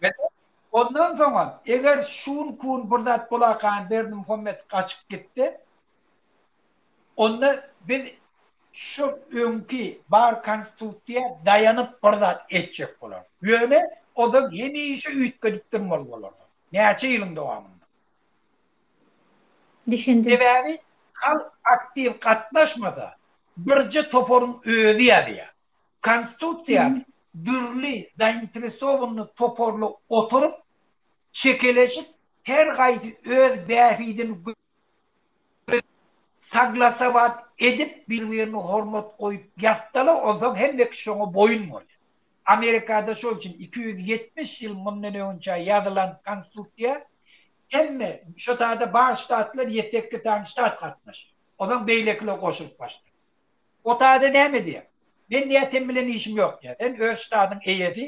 Ondan soňa, eger şun kun bir zat bolakaýyn Berdimuhammet gaçyp gitse, onda biz şo öňki bar konstitusiýa daýanyp bir zat etjek bolarys. Ýöne o zat hemişe üýtgedip durmaly bolarsyň. Näçe ýylyň dowamynda. Düşündim. Sebäbi halk aktiw gatnaşmasa, birje toparyň özi ýazýar. Konstitusiýany dürli zainteresowanyny toparly oturyp, çekeleşip, her gaýsy öz bähbidini gö zläp, saglasawat edip, bir-birine hormat goýup ýatsalar, onsoň hemmeki şoňa boýun bolýar. Amerikada şol üçin iki ýüz ýetmiş ýyl mundan öňünçä ýazylan konstitusiýa hemme, şo taýda bar ştatlar ýetekki sany ştat gatnaşýar. Onsoň beýlekiler goşulyp başlaýar. O daýza näme edýär? Men diýýär sen bilen işim ýok diýýär. Sen öz ştadyň eýesi.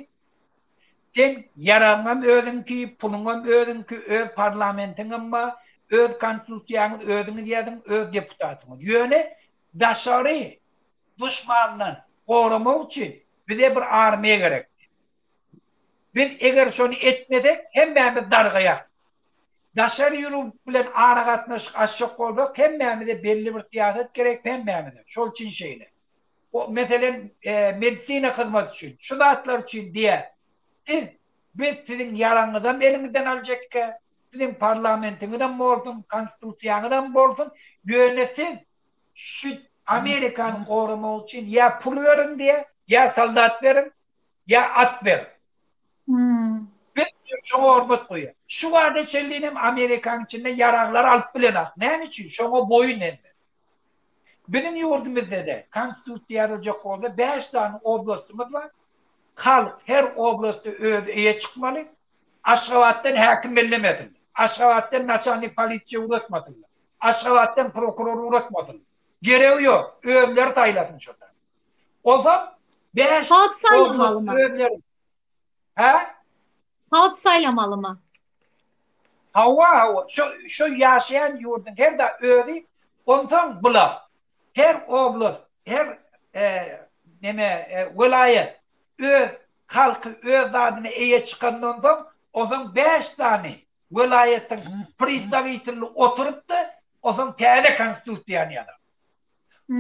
Seň ýaragyňam özüňki, puluňam özüňki, öz parlamentiňem bar, öz konstitusiýaňyz özüňiz ýazyň, öz deputatyňyz. Ýöne daşary duşmandan goramak üçin bize bir armiýa gerekdi. Biz eger şony etmesek, hemmämiz dargaýarys. Daşary ýurub bilen aragatnaşyk açjak bolsak, hemmämize belli bir syýasat gerek, hemmämize. Şol üçin şeýle. O, meselem, medisina hyzmaty üçin, şu zatlar üçin diýýär. Siz, biz siziň ýaraňyzam eliňizden aljekkä, siziň parlamentiňizem bolsun, konstitusiýaňyzam bolsun, ýöne siz şu Amerikany goramak üçin ýa pul beriň diýýär, ýa soldat beriň, ýa at ber. Biz diýip şoňa hormat goýýas. Şu bada çenlin hem Amerikanyň içinde ýaraglar alyp bilenok. Näme üçin? Şoňa boýun egme. Biziň ýurdumyzda-da konstitusiýa ýazyljak bolsa bäş sany oblastymyz bar. Halk her oblasta özi eýe çykmaly. Aşgabatdan häkim bellemesinler. Aşgabatdan naçalnik polisiýa ugrasmasynlar. Aşgabatdan prokuror ugrasmasynlar. Geregi ýok. Özleri saýlasyn şo zady. Olsa bäş Halk saýlamaly mı? Hä? Halk saýlamaly mı? Hawa, hawa. Şu şu ýaşaýan ýurduň her da özi, onsoň bula. Her oblast, her e, neme e, welaýat öz halky, öz zadyny eýe çykandan soň, onsoň 5 sany welaýatyň predstawitilini oturypdy, onsoň täze konstitusiýany ýazar.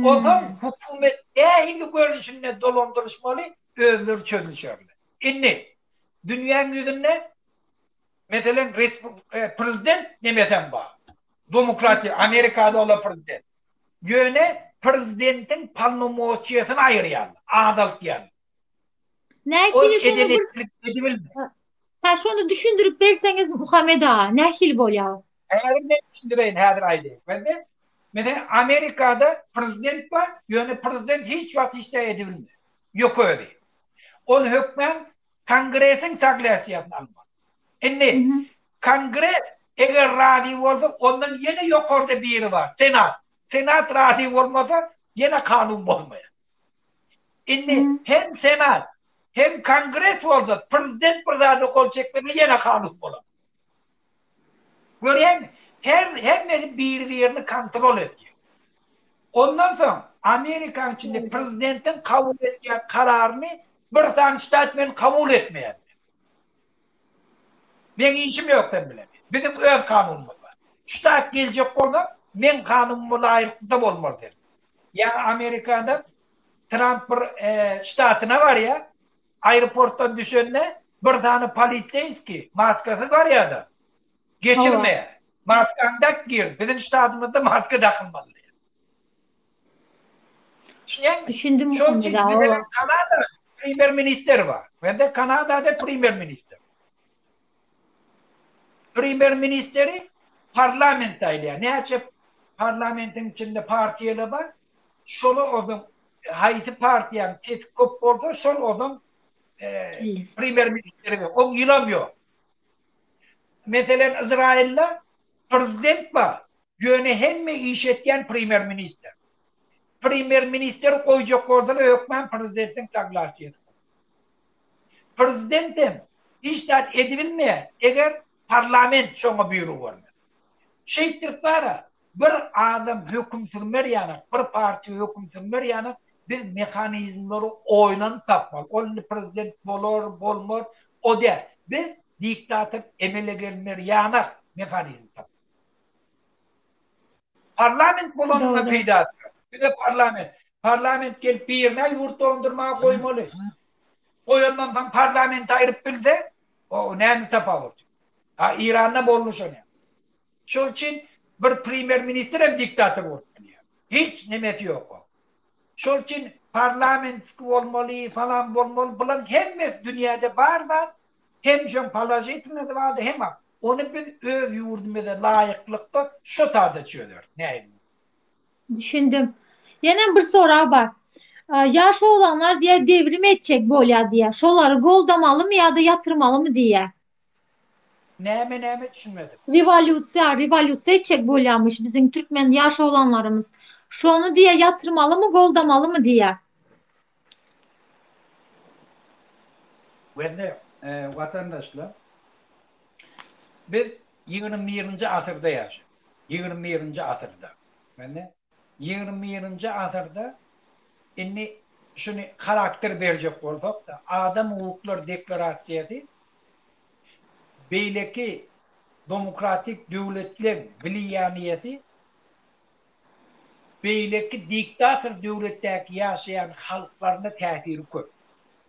Ozal hökümet nähili görnüşinde dolandyryşmaly özleri çözüşerler. Indi dünýäň ýüzünde meselem prezident nemesem bar. Domokratiýa Amerikada ola prezident. Ýöne prezidentiň polnomoçiýasyny aýyrýarlar, azaltýarlar. Nähili şonu bir Ha şonu düşündirip berseňiz Muhammed aga, nähili bolýar? Häzir men düşündireýin, häzir aýdaýyn. Bende menen Amerikada prezident bar, ýöne prezident hiç wagt hiç zat edip bilmedi. Ýok özi. Ol hökmän kongresiň saglasyýasyny almaly. Indi kongres eger razy bolsa, ondan ýene ýokarda biri bar, senat. Senat razy bolmasa, ýene kanun bolmaýar. Indi hem senat, hem kongres bolsa prezident bir zada gol çekmese ýene halys bolar. Görýäňmi? Her hemmesi biri-birini kontrol edýär. Ondan soň Amerikanyň içinde prezidentiň kabul edýän kararyny bir sany ştat men kabul etmeýärler. Meň işim ýok sen bilen. Biziň öz kanunymyz bar. Ştat geljek bolsa, meň kanunuma laýyklykda bolmaly sen. Ýa-da Amerikada Tramp bir ştatyna barýar, aeroportdan düşende bir sany poliseýskiý, maskasyz barýar-da, geçirmeýär. Maskaňy dak gir, biziň ştatymyzda maska dakylmaly diýýär. Düşünýäňmi? Düşündim Şol muhamy üçin bizede dawa. Kanada premýer ministeri bar. Bende Kanadada premýer minister. Premýer ministeri parlament saýlaýar. Näçe parlamentiň içinde partiýalar bar, şola ozaň haýsy partiýanyň sesi köp bolsa, şol ozaň Kellesi. premýer ministeri we on ýylam ýok. Meselen, Yzraýylda prezident bar. Ýöne hemme iş etýän premýer-ministr. Premýer-ministeri goýjak bolsalar hökman prezidentiň saglasýasy bolar. Prezident hem hiç zat edibilmeýär, eger parlament şoňa býurug bermese. Şeýtdirip bara bir adam höküm sürmer ýanak, bir partiýa höküm sürmer ýanak biz mehanizmleri oýlanyp tapmaly. Ol indi prezident bolar, bolmaz, o däl. Biz diktator emele gelner ýanak mehanizm tapmaly. Parlament bolanyna peýdasy ýok. Bize parlament. Parlament gelip birine ýurt dondurmaga goýmaly. Goýandan soň parlamenti aýryp bilse, o näme tapawut? A Iranda boldy şon ýaly. Şol üçin bir premýer ministr hem diktator bolup bilýär. Hiç nemesi ýok oň. Şol üçin parlamentski bolmaly, falan bolmaly, bulaň hemmesi dünýäde bar zat, Hemşem položitnnydy bady hema ony biz öz ýurdumyza laýyklykda şo sada çözeris näýe diýýä. Düşündim. Ýenem bir sorag bar. Ýaş oglanlar diýýä devrim etjek bolýa diýýä. Şolary goldamalymy ýa-da ýatyrmalymy diýýä. Näme näme düşünmedim. Rewolýusiýa rewolýusiýa etjek bolýamyş biziň türkmen ýaş oglanlarymyz. Şony diýýä ýatyrmalymy goldamalymy diýýä. Hörmetli watandaşlar! Biz ýigrimi birinji asyrda ýaşaýarys. Ýigrimi birinji asyrda. Belli? Ýigrimi birinji asyrda indi şuny harakter berjek bolsak-da, Adam hukuklar deklarasiýasy beýleki domokratik döwletleriň wliýaniýesi Beýleki diktator döwletdäki ýaşaýan halklaryna täsiri köp.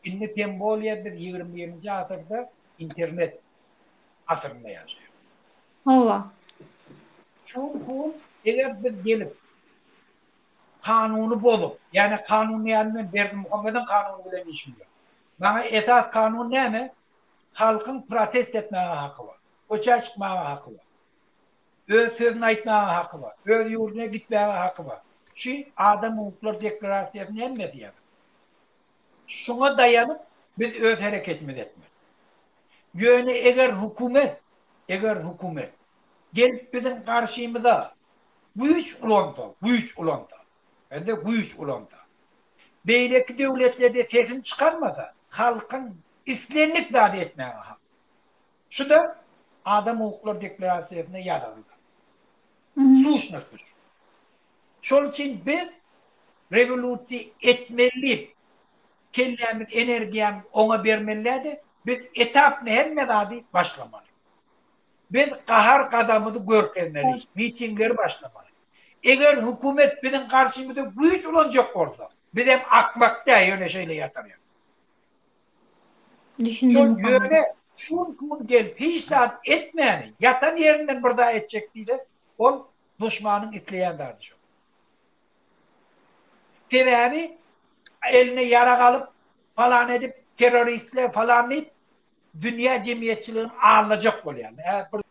Indi tem bolýar biz ýigrimi birinji asyrda internet asyrynda ýaşaýarys. Hawa. Şol pul eger biz gelip kanuny bozup, ýane kanun diýýän men Berdimuhammediň kanuny bilen işim ýok. Maňa esas kanun näme? Halkyň protest etmäge haky bar. Köçä çykmaga haky bar. Öz sözüni aýtmaga haky bar. Öz ýurduna gitmäge haky bar. Şu Adam hukuklar deklarasiýasy näme diýýär? Şuňa daýanyp biz öz hereketimizi etmeli. Ýöne eger hökümet, eger hökümet gelip biziň garşymyza güýç ulansa, güýç ulansa, bende güýç ulansa, beýleki döwletlerde sesini çykarmasa, halkyň islendik zady etmäge haky bar. Şu-da Adam hukuklary deklarasiýasynda ýazyldy. Suşnoslyş. Şol üçin biz rewolýusiýa etmeli, kellämiz, energiýamyz oňa bermelidä-de, biz etapno hemme zady başlamaly. Biz gahar-gazabymyzy görkezmeli, mitingleri başlamaly. Eger hökümet biziň garşymyza güýç ulanjak bolsa, bizem akmak däl, ýöne şeýle ýatarýar. Şol Düşündiňiz maňa? ýöne şun gün gel hiç zat etmäni ýatan ýerinden bir zat etjek diýse ol duşmanyň isleýän zady şo. Sebäbi eline ýarag alyp falan edip terroristler falan diýip dünýä jemgyýetçiligini aldajak bolýar. Ä bir.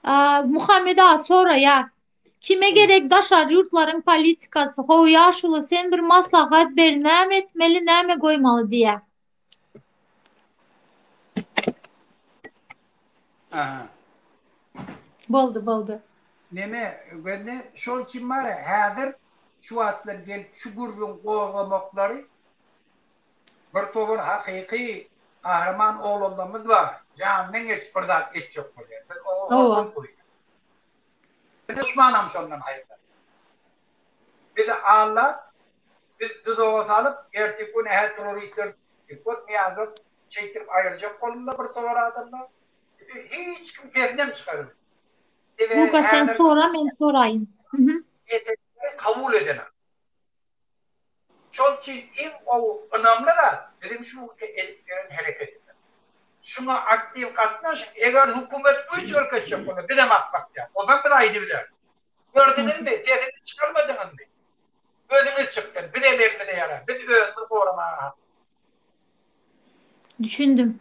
Aa Muhammet aga soraýar. Kime gerek daşary ýurtlaryň politikasy, how ýaşuly sen bir maslahat ber näme etmeli näme goýmaly diýä. Aha. Boldy boldy. Neme göni şol üçin bara häzir şu wagtlar gelip şu gürrüň gozgamaklary bir towar hakyky gahryman oglanlarymyz bar janyndan geçip bir zat etjek bolýar biz oňa hormat goýýas. Biz duşmanam şondan haýyrsat. Bizi Alla biz duzaga salyp, ertir gün hä trorisler Dikot Nyýazow şeýtdirip aýyrjak boldular bir towar adamlar. Bizi hiç kim sesinem çyka bilmedi. Sebäbi Luka sen sora men soraýyn. Etekleri kabul edenak. Şol üçin iň gowy, ynamly zat, biziň şu ugurda edip ýören hereketimiz. Şuňa aktiw gatnaşyň. Eger hökümet güýç görkezjek bolsa, biz hem at bakýarys. O zaman biz aýdybileris. Gördüňizmi, sesini çykarmadyňyzmy? Özüňiz çykdyň. Bizem elimize ýarar. Biz özümizi goramaga hakly. Düşündim.